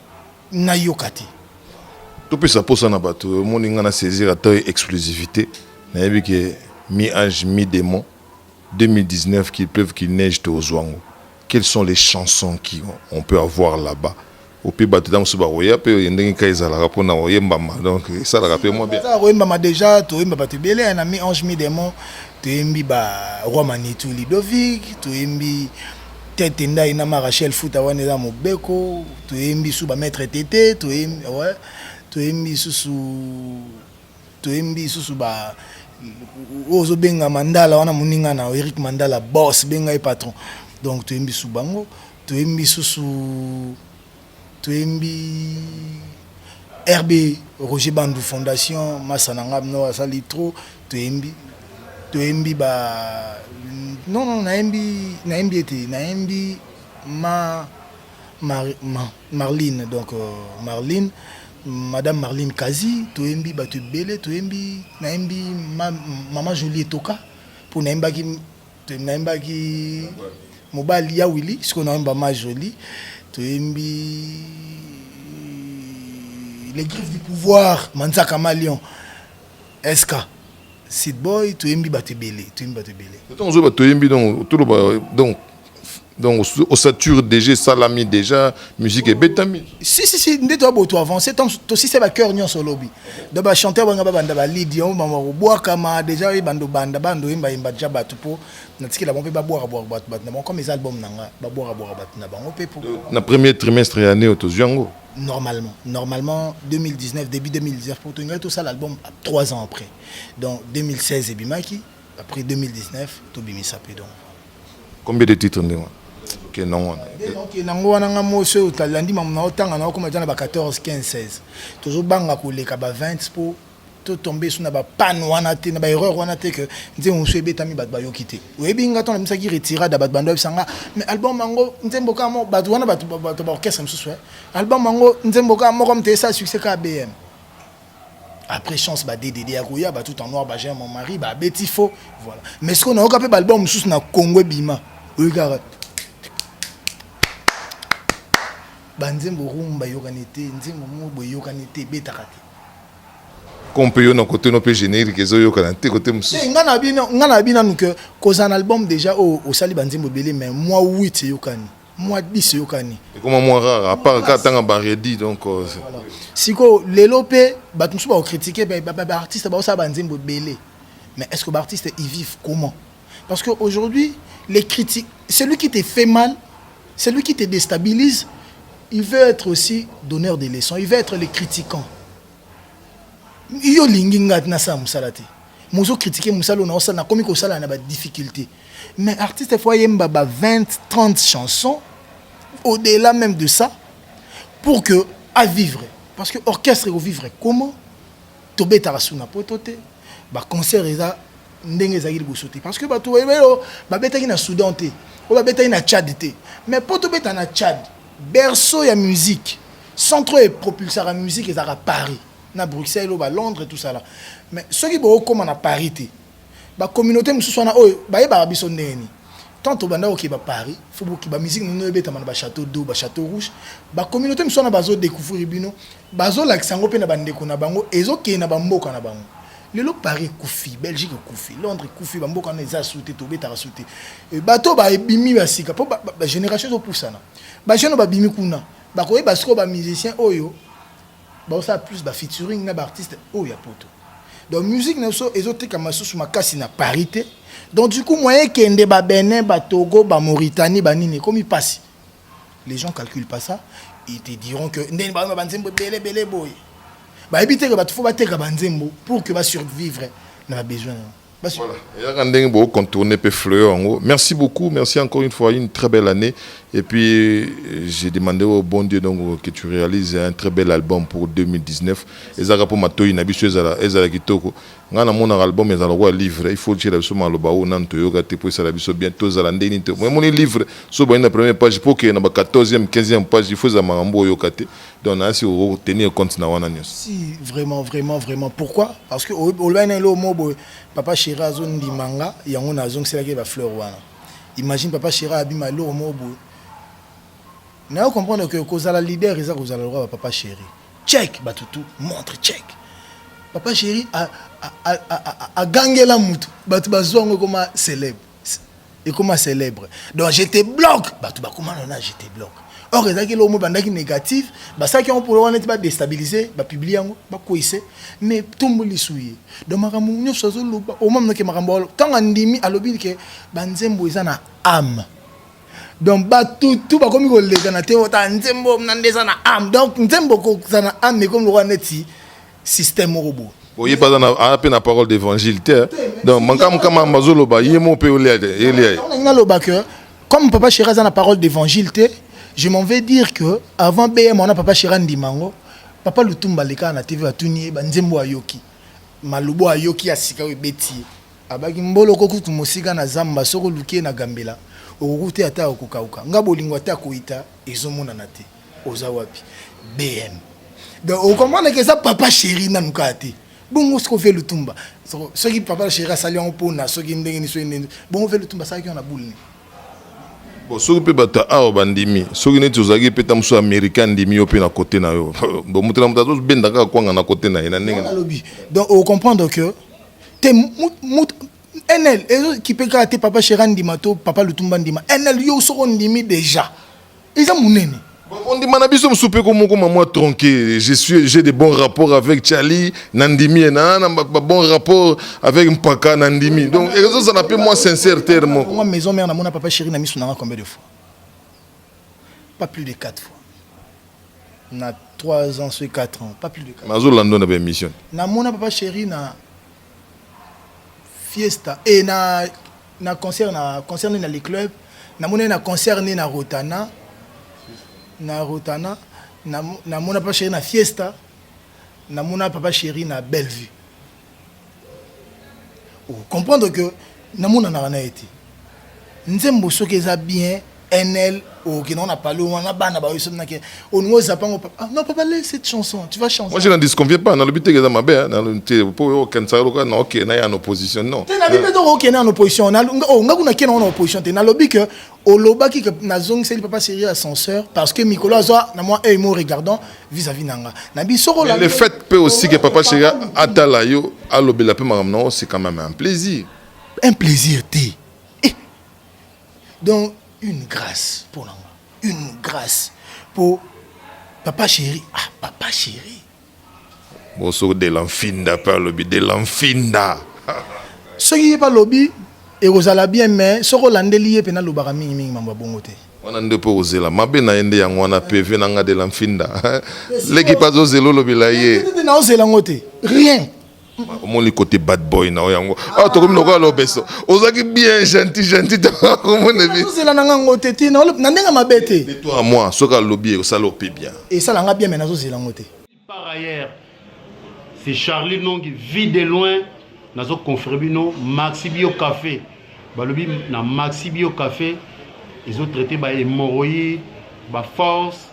nayoka te topesa mposa na bato omoni ngai na saisir ata exclusivité nayebi ke mi ange mi démon 2019 qu'il pleuve qu'il neige tozwa yango quelles sont les chansons qui on peut avoir là-bas ope bato ntango mosusu bakoya mpe oye ndenge kaka ezalaka mpo na koyembama donc esalaka mpe mwa biazala koyembama déjà toyemba bato ebele na mi ange mi démon toyembi ba roi manitou lidovic toyembi Tete ndayi na ma Rachel futa wana eza mobeko toyembi su ba maître tete toyembi ouais toyembi susu toyembi susu ba oyo ozobenga mandala wana moninga na Eric mandala boss benga ye patron donc toyembi su bango toyembi susu Toyembi RB Roger Bandu Fondation masa na nga no asali trop toyembi toyembi ba non non nayembi nayembi ete nayembi ma Mar, ma, Marlene donc euh, Marlene madame Marlene Kazi toyembi bato ebele toyembi nayembi ma, mama Jolie Etoka mpo nayembaki Te naimbaki mobali ya Willy, siko naimba ma jolie, toyembi les griffes du pouvoir, Manzaka Malion, SK. Seed Boy, toyembi bato ebele, toyembi bato ebele. Ntango ozoyeba toyembi donc toloba donc donc osature déjà esalami déjà musique ebetami si si si nde toya boto avance ntango tosisa bacoeur nyonso olobi donc bachanteur banga babanda balidi yango bango bakobwakama déjà oyeba ndobanda banda oyembayemba deja bato mpo natikela bango mpe babwakabwaka bato bato na bango comme eza album na nga babwakabwaka bato na bango mpe mpo na premier trimestre ya année oyo tozwi yango normalement normalement 2019 début 2019 mpo tolingai tosala album 3 ans après donc 2016 ebimaki Après 2019, to bimisa pe donc. Combien de titres ndenge wana? ke nango wana ke nango wana nga mosi oyo talandi mamu na otanga na okoma eza na ba 14 15 16 tozobanga koleka ba 20 mpo totombe so na bapane wana te na baerreur wana te ke nzembo mosusu ebetami bato bayoki te oyebi nga ntango nabisaki retirade ya bato bando yebisa nga mais album yango nzembo kaka moko bato wana bato baorchestre mosusu eh. album yango nzembo kaka moko mte esala succès kaka bm après chance ba DDD ya koya ba tout en noir ba j'aime mon mari ba beti faux voilà mais ce qu'on a oka pe ba album sous na Congo bima oyokaka ba nzembo rumba yokani te nzembo mo boye yokani te betaka te kompe yo na kote no mpe générique ezoyokana te kote mosusu eh, ngai na bino nanu ke kozala na album déjà oyo oh, osali banzembo ebele mais mwa wit eyokani mwa 10 eyokani ekoma mwa rare apart kaka ntanga baredi donc euh, sikoyo lelo mpe bato mosusu bakokritike baartiste baosala banzembo ebele mais est ce que baartiste ils vivent comment parce que aujourd'hui les critiques celui qui te fait mal celui qui te déstabilise il veut être aussi donneur de leçons il veut être le critiquant yo olingi ngai nasala mosala te mozo kritike mosala oyo naosala nakomi kosala na badifficulté Mais artiste faut ayemba ba 20 30 chansons au-delà même de ça pour que à vivre parce que orchestre ko vivre comment tobetaka suna poto te ba concert eza ndenge ezalaki liboso te parce que bato bayebayo babetaki na soudan te oyo babetaki na tchad te mais mpo tobeta na tchad berceau ya musique centre oyo epropulsaka musique ezalaka paris na bruxelles oyo balondres tout ça là mais soki bookóma na paris te ba communauté mosusu wana oyo bayebaka biso ndenge nini tant tobanda kokeba paris fo bokiba musique nino ebetama na bachateau d'eau bachateau rouge bacommunauté mosusu wana bazodécouvrir bino bazolakisa yango mpe na bandeko na bango ezokende na bamboka na bango lelo paris ekufi belgique ekufi londres ekufi bamboka wana eza su te tobetaka su te eh, bato babimi ya sika mpo bagénération ezopusana bajeune babimi kuna bakoyeba sikoyo bamusicien oyo Baosala plus ba featuring na ba artistes oyo ya poto. Donc musique na biso ezotekama susu makasi na Paris te. Donc du coup moyen ekende ba Benin, ba Togo, ba Mauritanie, ba nini ekomi pasi. Les gens calculent pas ça. Ils te diront que ndenge ba ba nzembo bele bele boy. Ba ebiteka ba tufo ba teka ba nzembo pour que ba survivre na ba besoin. Voilà. Eyaka ndenge bo contourner pe fleur yango. Merci beaucoup, merci encore une fois, une très belle année. Et puis euh, j'ai demandé au bon Dieu donc que tu réalises un très bel album pour 2019. Ezaka pour matoyi na biso ezala ezala kitoko. Nga na mona album ezala kwa livre, il faut tshela biso maloba o nan to yoka te pour ezala biso bien to zala ndeni te. Moi moni livre so ba na première page pour que na ba 14e, 15e page il faut za mangambo yoka te. donc na si o tenir compte na wana nyonso si vraiment vraiment vraiment pourquoi parce que olobaki na eloko moko boye papa chéri azondima nga yango nazongiselaki ye bafleur wana imagine papa chéri abima eloko moko boye nayo comprendre que kozala leader eza kozala lokola bapapa chéri check bato tout montre check papa chéri agangela motu bato bazwa yango ekoma célèbre ekoma célèbre donc je te bloque bato bakoma nana je te bloque or ezalaki eloko mo ebandaki négative basalaki yango polo wana ti badestabilise bapublie yango bakweise mais ntombo lisu ye donc makambo nyonso azoloba omaminoke makambo ntango andimi alobi ke banzembo eza na ame donc bato tu bakomi kolekana te ota nzembo na nde eza na ame donc nzembo kozala na ame ekomi lokola neti système moko boye oye baza na aa mpe na parole d'évangile te hein. donc makambo kama bazoloba ye mo mpe olia te elia ye nalingi naloba que comme papa chéri aza na parole d'évangile te je m'en vais dire que avant bm wana papa chéri andima yango papa lutumba alekaka na tv batuni ye banzembo ayoki malobo ayoki ya sika oyo ebeti ye abaki mbolo okoki kutu mosika na zamba soki oluki ye na gambela okokuta ye ata akokauka nga bolingo ata akoyita ezomonana te oza wapi bm donc okomprendre ke eza papa chéri nanu kaka te bongo soko ve lutumba soki papa chéri asali yango mpona soki ndenge ni soki ndenge bongo ve lutumba asalaki yango na boule nini bon soki mpe bato ya awa bandimi soki neti ozalaki mpe ta mosusu américain andimi yo mpe na kote na yo bon moto na moto azobenda kaka kwanga na kote na ye na ndenge alobi donc okomprendre que te nl ezokipe kaka te papa chéri andima to papa lutumba andima nl yo soko ondimi déjà eza munene ondima na biso mosusu mpe ko moko mamwa tronke je suis j'ai de bons rapports avec charlie na ndimi ye na na babon rapport avec mpaka na ndimi donc ezozala mpe mwa sincère terre moko mwa maison mère namona papa chéri na miso nanga combien de fois pas plus de 4 fois na 3 ans ce 4 ans pas plus de 4 nazolando na baémission namona papa chéri na fiesta et eh, na na concert na concert ni na le club na mona na concert ni na Rotana na Rotana na na mona papa chéri na fiesta na mona papa chéri na Bellevue vous comprenez que namonanaka na ye te nzembo soki eza bien nl okenda oh, on a parlé on a bana ba yo somna ke on nous zapa ngo papa ah, non papa laisse cette chanson tu vas chanter moi je n'en disconviens pas na lobite eza mabe hein, na lobite po yo ken sa loka na ok na ya en opposition non te na bipe donc ok na en opposition na oh nga kuna ken na opposition te na lobi que olobaki que nazongiseli papa serie ascenseur parce que mikolo azwa na mwa œil mo regardant vis-à-vis na nga na biso kolanda le fait mpe aussi que papa serie atala yo alobela mpe makambo na yo c'est quand même un plaisir un plaisir te eh. donc une grâce mpo na nga une grâce mpo papa chéri ah papa chéri Bonsoir de la nfinda pe alobi de la nfinda soki ye pe alobi ekozala bien mais soki olandeli ye pena alobaka mingi mingi mambo ya bongo te wana nde mpe ozela mabe na ye nde yango wana peve na nga de la nfinda leki mpe azozela olobela ye naozela yango te rien omoni kote bad boy na yo yango awa ah, tokomi lokola lobeso ozalaki bien gentil gentil tokomonezela na nga ngo te ti na ndenge mabe te to a moi soki alobi ekosala ope bien esala nga bien me nazozela ngo te par ailleurs c'est charlie nongi vie de loin nazoconfere bino maxi bio café balobi na maxi bio café ezotraite bahémoroïde baforce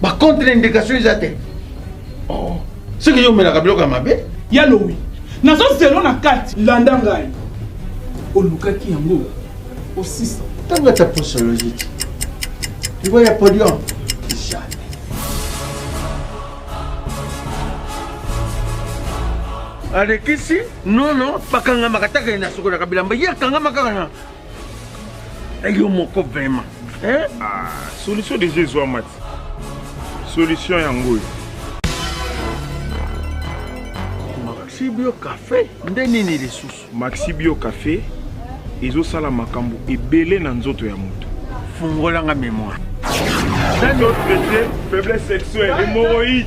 ba contre indication eza te oh. soki yo omelaka biloko ya mabe ya lowi nazo zelo na kati landa ngai olukaki yango osisa ntango ata posologie ti libo ya podium alekisi nono bakangamaka taka ye na sokolaka bilamba ye akangamaka na Eh, yo moko vraiment eh? ah, solution déjà ezwama ti solution yango oyo maxibio café nde nini lisusu maxibio café ezosala makambo ebele na nzoto ya moto fungolanga mémoire faiblesse sexuelle hémorroïde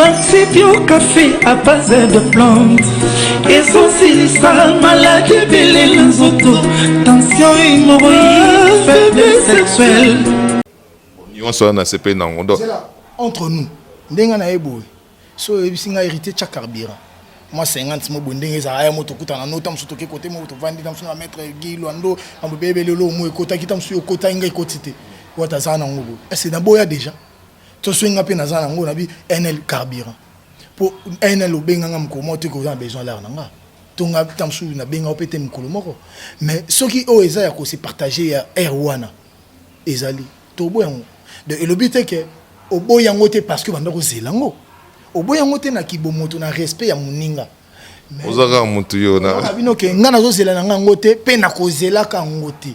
Maxi Bio Café à base de plantes ezosilisa maladi ebele na nzoto tension hémorroïde faiblesse sexuelle nyonso wana nasepeli na yango donc entre nous ndenge na ye boye so oyebisi ngai hérité tya carburant mwa 50 mo boye ndenge ezalaka ya moto okutana no ta mosusu toke kote moko tovandi ta mosusu na maître gi lwando mambo bebele olo omo ekotaki ta mosusu okotaki ngai ekoti te wata azala na yango boye ese naboya déjà Toswe nga pe naza nango na bi NL carburant. Po NL obenga nga mokolo moko te ko za besoin l'heure na nga. To nga tamsu na benga pe te mokolo moko. Mais soki oyo eza ya ko se partager ya heure wana ezali to boya ngo. De elobi te ke oboya ngo te parce que banda ko zela ngo. Oboya ngo te na kibomoto na respect ya moninga. Oza kaka mutu yo na. Bino ke nga nazo zela na nga ngo te pe na ko zelaka ngo te.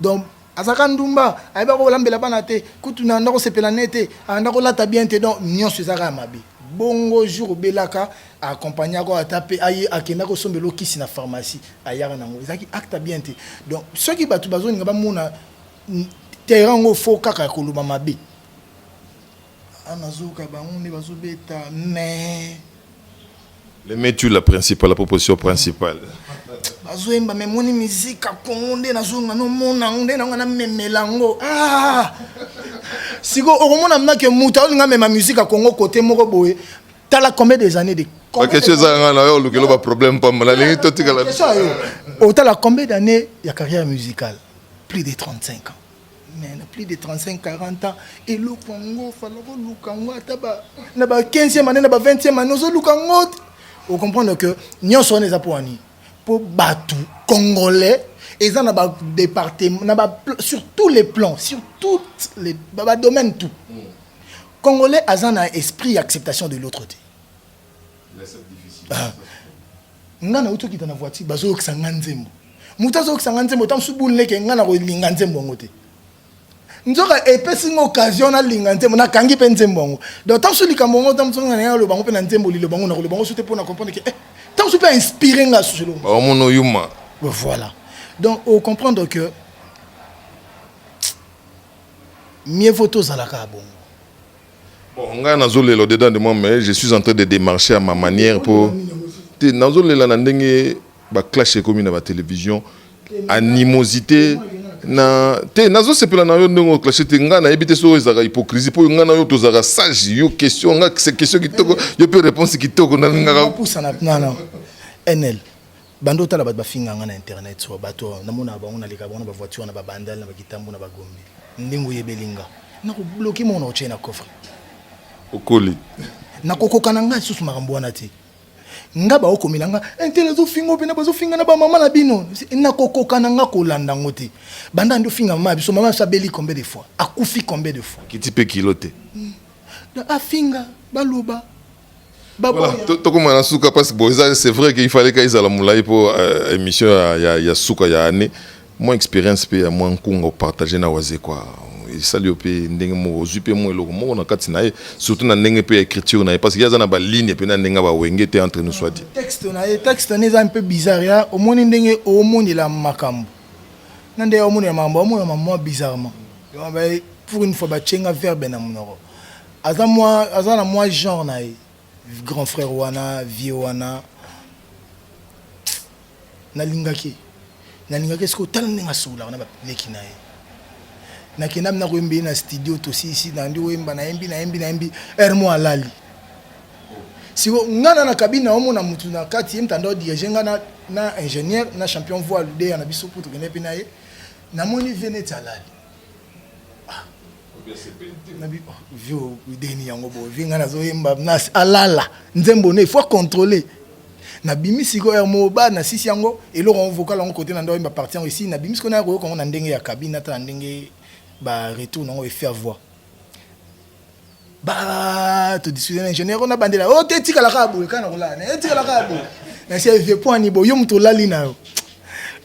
donc azalaka ndumba ayeba kolambela bana te kutu na anda kosepela ne te anda kolata bien te donc nyonso ezalaka ya mabe bongo jour obelaka accompagne yako ata mpe aye akenda kosombela okisi na pharmacie ayaka nango ezalaki acte bien te donc soki bato bazolinga bamona terrain yango fo kaka ya koloba mabe Ah, nazoyoka bango nde bazobeta mais le metu la principale la proposition principale bazoyemba me moni mizika kongo nde nazonga nomona yango nde nanga namemela yango ah! sikoyo okomona mnake moto aolinga mema mizika kongo kote moko boye tala combien des années de bakestion ezanga nga na yo olukelo baproblème pamba nalingi totikala otala combien d'année ya carrière musicale plus de 35 ans mais na plus de 35 40 ans eloko yango falaka oluka yango ata na ba 15e année na ba 20e année ozoluka yango te ocomprendre que nyonso wana eza mpo ani mpo bato congolais eza na badepartement na ba sur tous les plans sur toutes les badomaine tout congolais aza na esprit ya acceptation de l'autre te ah. nga nauti okita na voiture bazoyokisa nga nzembo moto azoyokisa nga nzembo ta mosusu bunleke nga na kolinga nzembo yango te nzoka epesi nga occasion nalinga nzembo nakangi mpe nzembo yango donc ta mosusu likambo yango ta mosusu nga naye aloba yango mpe na nzembo liloba yango nakoloba yango su te mpo na comprendre ke eh, ta mosusu mpe ainspire nga susu eloko omona oyuma voilà donc ocomprendre que mieux vaut tozalaka bongo Bon ngai nazolela au dedans de moi mais je suis en train de démarcher à ma manière po te nazolela na ndenge baclash ekomi na batelevision animosité na te nazosepela na yo ndenge oclache te ngai nayebi te soki ezalaka hypocrisie mpo ngai na yo tozalaka sage yo question ngai question kitoko yo mpe réponse kitoko nalingaka enel Banda otala bato bafinga nga na internet soa bato oyo namonaka bango naleka bango na bavoiture na babandal na bakitambo na bagombi ndenge oyebeli nga nakobloke moko na kotie na coffre okoli nakokoka na ngai lisusu makambo wana te nga baokomela nga intele eh, azofinga mpena bazofinga na bamama na bino nakokoka na nga kolanda yango te banda nde ofinga mama ya biso mama biso abeli combien de fois akufi combien de fois kiti mpe kilo te hmm. afinga baloba Voilà, tokoma na suka parce que bon, c'est vrai qu'il fallait qu'ils aient la moulay pour euh, émission ya, ya, ya suka ya année. Mon expérience pe ya moi nkunga partager na waze quoi. esali yo mpe ndenge moko ozwi mpe mwa eloko moko na kati na ye surtout na ndenge mpe ya écriture na ye parce que ye aza na baligne mpe na ndenge ya bawenge te entre nous soit dit texte na ye texte na ye eza mpe bizarre ya omoni ndenge omonela makambo na ndenge omonela makambo omonela mamwa bizarrement pour une fois batyenga verbe na monoko aza mwa aza na mwa genre na ye grand frère wana vieux wana nalingaki nalingaki soki otala ndenge asololaka na baleki na ye nakenda mi nakoyemba ye na studio tosisi nandi oyemba nayembi nayembi nayembi heure mo alali siko ngai na na kabine naomona motu na kati ye mtanda odirige ngai na, na ingénieur na champion voi ludeya na biso mpo tokende mpe na ye namoni vie neti alali ah, na bipa vio ideni yango boye vi ngai nazoyemba na alala nzembo ne faut contrôler nabimi sikoyo ya moba nasisi yango eloko yango vocal yango kote na ndo oyemba parti yango esi nabimi sikoyo naya koyoka yango na ndenge ya kabine ata na ndenge ba retour nango efe ya voix ba todiscute na ingénieur oyo nabandela o oh, te etikala kaka boye kaka na kolala na etikala kaka boye nasi vie poani boye yo moto olali na yo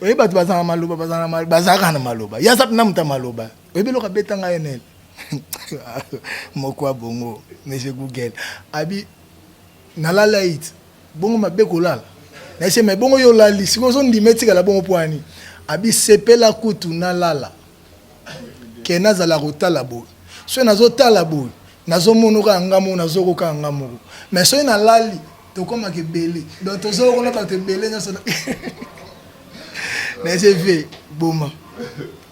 oye bato bazalaka maloba bazalaka na maloba yaza mpena moto ya maloba oyebi eloko abeta ngai nene moko abongo monsieur google abi nalala it bongo mabe kolala naise me bongo yo olali sikoyo ozondima etikala bongo pwani abi sepela kutu nalala ke nazala kotala boye soki nazotala boye nazomonoka yanga moko nazokoka yanga moko me soki nalali tokomaka ebele donc tozokona bato ebele nyonso na sv boma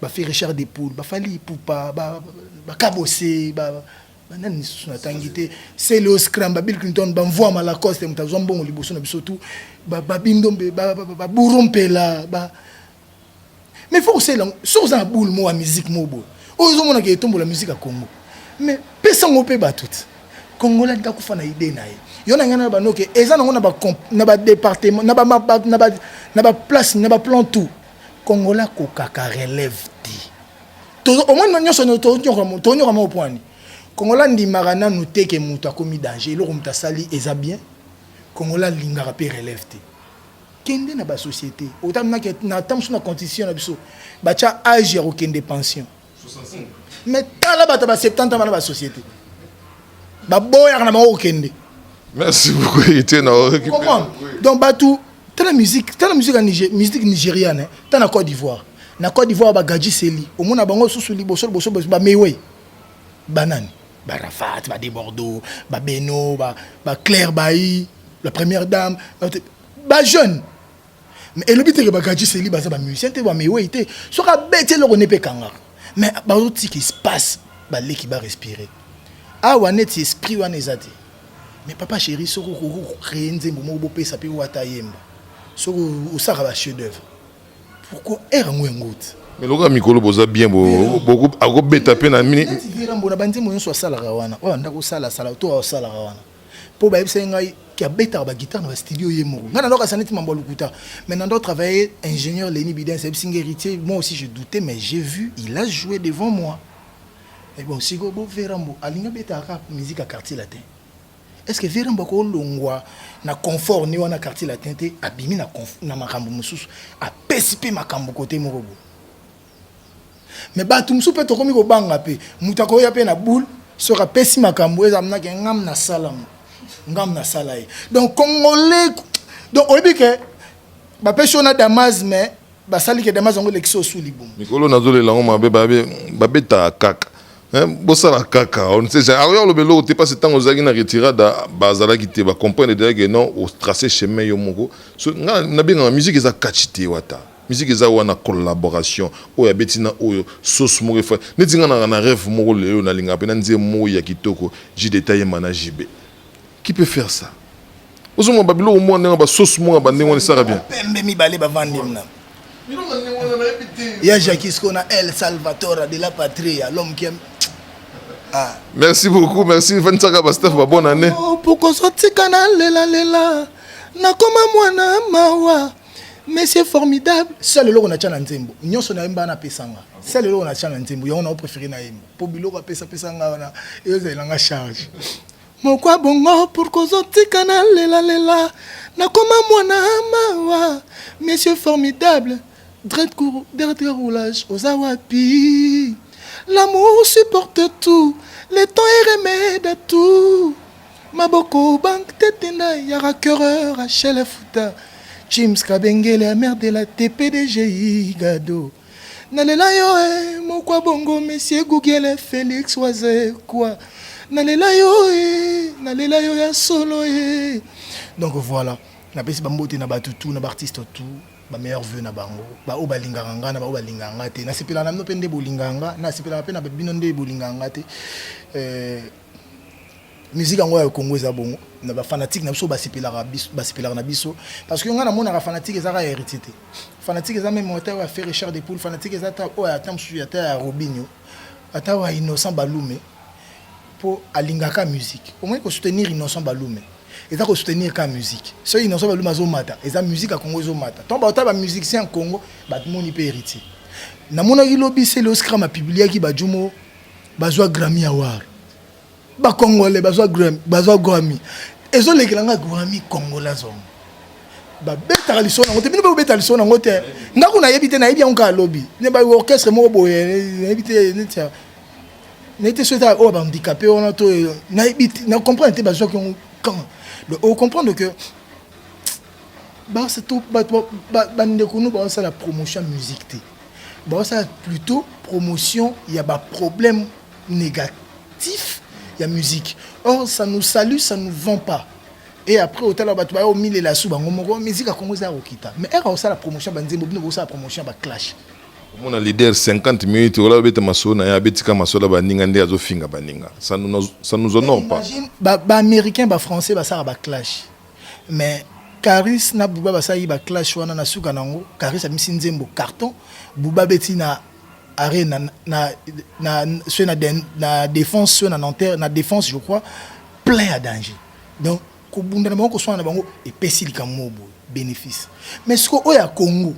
ba fait Richard de Poule ba fali ipupa ba ba kabose ba banani lisusu natangi te celeo scram babill clinton bamvua malacoste moto azwa mbongo liboso na biso tu babindombe baburu mpela ba mais faut kosala yango soki oza na boule moko ya musique moko boye oyo ozomonaka etombola musique ya congo mais pesa yango mpe bato te congolais alingi akufa na idee na ye yo na ngai na banoke eza nango na badepartement na baplace na baplan tout Congolais akokaka relève te. Tozo omoni no nyoso no to nyoka mo to nyoka mo poani. Congolais ndimaka nanu te ke mutu akomi danger eloko mutu asali eza bien. Congolais lingaka pe relève te. Kende na ba societe otamaki na tamusu na constitution na biso bacha age ya kokende pension. mais tala bato ba 70 ans bana ba société baboyaka na bango kokende merci beaucoup héritier na comprendre donc bato tala musique tala musique ya Niger, musique nigériane hein. tala na Côte d'Ivoire na Côte d'Ivoire ba Gadji Seli omona bango susu liboso liboso ba Mewe banani ba Rafat ba Debordeaux ba Beno ba ba Claire Bailly la première dame ba jeune mais elobi te ke bagaji seli baza ba musicien te ba mewei te soki abeti eloko ne mpe ekangaka mais bazotika espace baleki ba respire awa neti esprit wana eza te mais papa chéri soki okoki kocree nzembo moko bopesa mpe wata ayemba soki osaka ba chef d'oeuvre pourquoi ere yango yango te mais lokola mikolo boza bien akobeta mpe na mini mbona banzembo nyonso asalaka wana oyo andako osala sala to asalaka wana mpo bayebisaki ngai ke abetaka baguitare na bastudio ye moko ngai nandoka saneti mambo ya lokuta mais nando travaille ingénieur leni bidens ayebisi ngai héritier moi aussi je doutais mais j'ai vu il a joué devant moi mais bon siko bo verambo alingi abetaka kaka musique ya quartier latin est ce que verambo akolongwa na confort ni wana quartier latin te abimi na, na makambo mosusu apesi mpe makambo kote moko boye mais bato mosusu mpe tokomi kobanga mpe moto akoya mpe na boule soki apesi makambo eza mnake ngam nasalamo ngam nasala ye donc congolais donc oyebi ke bapesi yo na damas mais basali ke damas yango elekisi osu libumu mikolo nazolela yango mabe babetaka kaka eh, bosala kaka on sait jamais alors alobe loko te parce tango ozalaki na retirada bazalaki te ba comprendre déjà que non o tracer chemin yo moko so nga na benga musique eza catch te wata Musique eza wana collaboration oyo abeti na oyo sauce moko efa neti nga nanga na reve moko lelo na linga pena nzembo moko ya kitoko JDT ayemba na JB qui peut faire ça ozo mwa ba biloko mwa ndenge ba sauce mwa ba ndenge wana esaka bien pembe mibale ba vandi mna ya Jacques Skona El Salvatore de la Patria l'homme qui aime Ah. Merci beaucoup, merci Vansaka Bastef, bah, bonne année. Oh, pourquoi sortir canal lela lela? Nakoma mwana mawa. mais c'est formidable seul eloko na tia na nzembo nyonso nayemba na pesanga seul eloko na tia na nzembo yango nao préféré nayemba mpo biloko apesa pesa nga wana ezala nga charge mokwa bongo pour kozotika na lelalela nakoma mwana mawa monsieur formidable dread cour dernier roulage oza wapi l'amour supporte tout le temps est remède à tout Maboko bank tete na yara cureur à chele futa James Kabengele amer de la TPDG Igado nalela yo e eh, mokwa bongo monsieur Google Felix waze kwa nalela yo e eh, nalela yo ya solo e eh. donc voilà napesi bambote na bato tout na baartiste tout bameilleur vue na bango baoyo balingaka nga na baoyo balingaka nga te nasepelaka na bino mpe nde bolingaka nga nasepelaka mpe na bino nde bolingaka nga te euh, musique yango ya Congo eza bongo na ba fanatique na biso basepelaka biso basepelaka na biso parce que nga na monaka fanatique ezaka ya héritier te fanatique eza même ata ya Ferre Richard de Poul fanatique eza ata oyo ata mosusu ata ya Robinho ata wa Innocent Balume po alingaka musique omoni ko soutenir Innocent Balume eza ko soutenir ka musique soki Innocent Balume azomata eza musique ya Congo ezomata ntango bauta ba musicien ya Congo bamoni mpe héritier namonaki lobi se leoscram apubliaki bajumo bazwa Grammy Award. Ba Congolais bazwa Grammy, bazwa Grammy. Ezo lekela nga Grammy Congolais zongo. Ba beta liso na ngote, bino ba beta liso na ngote. Nga kuna yebi te na yebi yango ka lobi. Ne ba orchestre moko boye, na yebi te ne tia. Na yebi te soki ta o oh, ba handicapé wana to na yebi te, na comprendre te bazwa ki yango quand. Donc o comprendre que ba se to ba ba ndeko nous ba sala promotion musique te. basala plutôt promotion ya ba problème négatif ya musique or ça nous salue ça nous vend pas et après otala bato bayo omilela su bango moko musique ya congo eza ya kokita mais ere osala promotion ya banzembo bino bosala promotion ya baclash omona leader 50 minutes ola obeta masolo na ye abetika masolo ya baninga nde azofinga baninga ça nous honore pas baaméricain bafrançais basala baclash Mais Caris na Booba basali ba clash wana na suka nango Caris amisi nzembo carton Booba beti na arena na na ceux na na défense ceux na Nanterre na défense je crois plein ya danger donc kobunda na bango koswana na bango epesi likambo moko boye bénéfice mais siko oyo ya Congo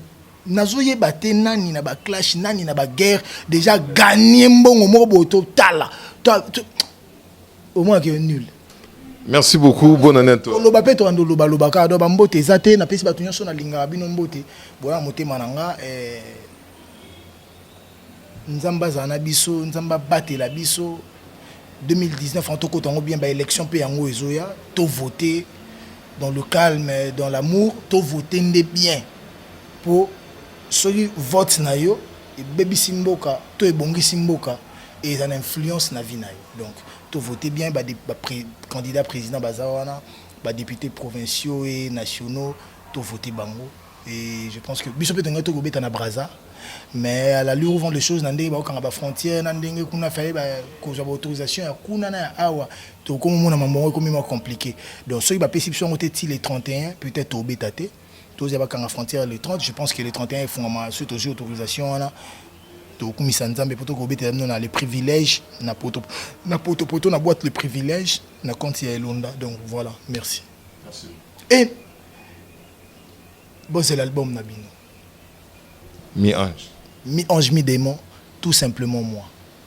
nazoyeba te nani na ba clash nani na ba guerre déjà gagner mbongo moko boye totala Omona que nul. Merci beaucoup, bonne année à toi. Oloba pe to ando loba loba ka do ba mbote eza te na pesi batu nyoso na lingaka bino mbote boya motema na nga eh Nzambe azala na biso, Nzambe abatela biso 2019 en tokota yango bien ba élection pe yango ezoya to voter dans le calme, dans l'amour, to voter nde bien po soki vote na yo ebebisi mboka to ebongisi mboka et eza na influence na vie na yo donc to voter bien ba, ba pré, candidat président baza wana ba députés provinciaux et nationaux to voter bango et je pense que biso peut tonga to kobeta na Brazza mais à l'allure où vont les choses na ndenge bakokanga ba frontières na ndenge kuna faye ba kozwa ba autorisation ya kuna na ya awa tokomi mona mamongo ekomi ma compliqué donc soki bapesi biso yango te ti le 31 peut-être tobeta te tozwa bakanga frontière le 30 je pense que le 31 efungama soki tozwi autorisation wana tokumisa nzambe mpo tokobetela bino na le privilège na poto na poto poto na boîte le privilège na compte ya elonda donc voilà merci, merci. et bozela album na bino mi ange mi ange mi démon tout simplement moi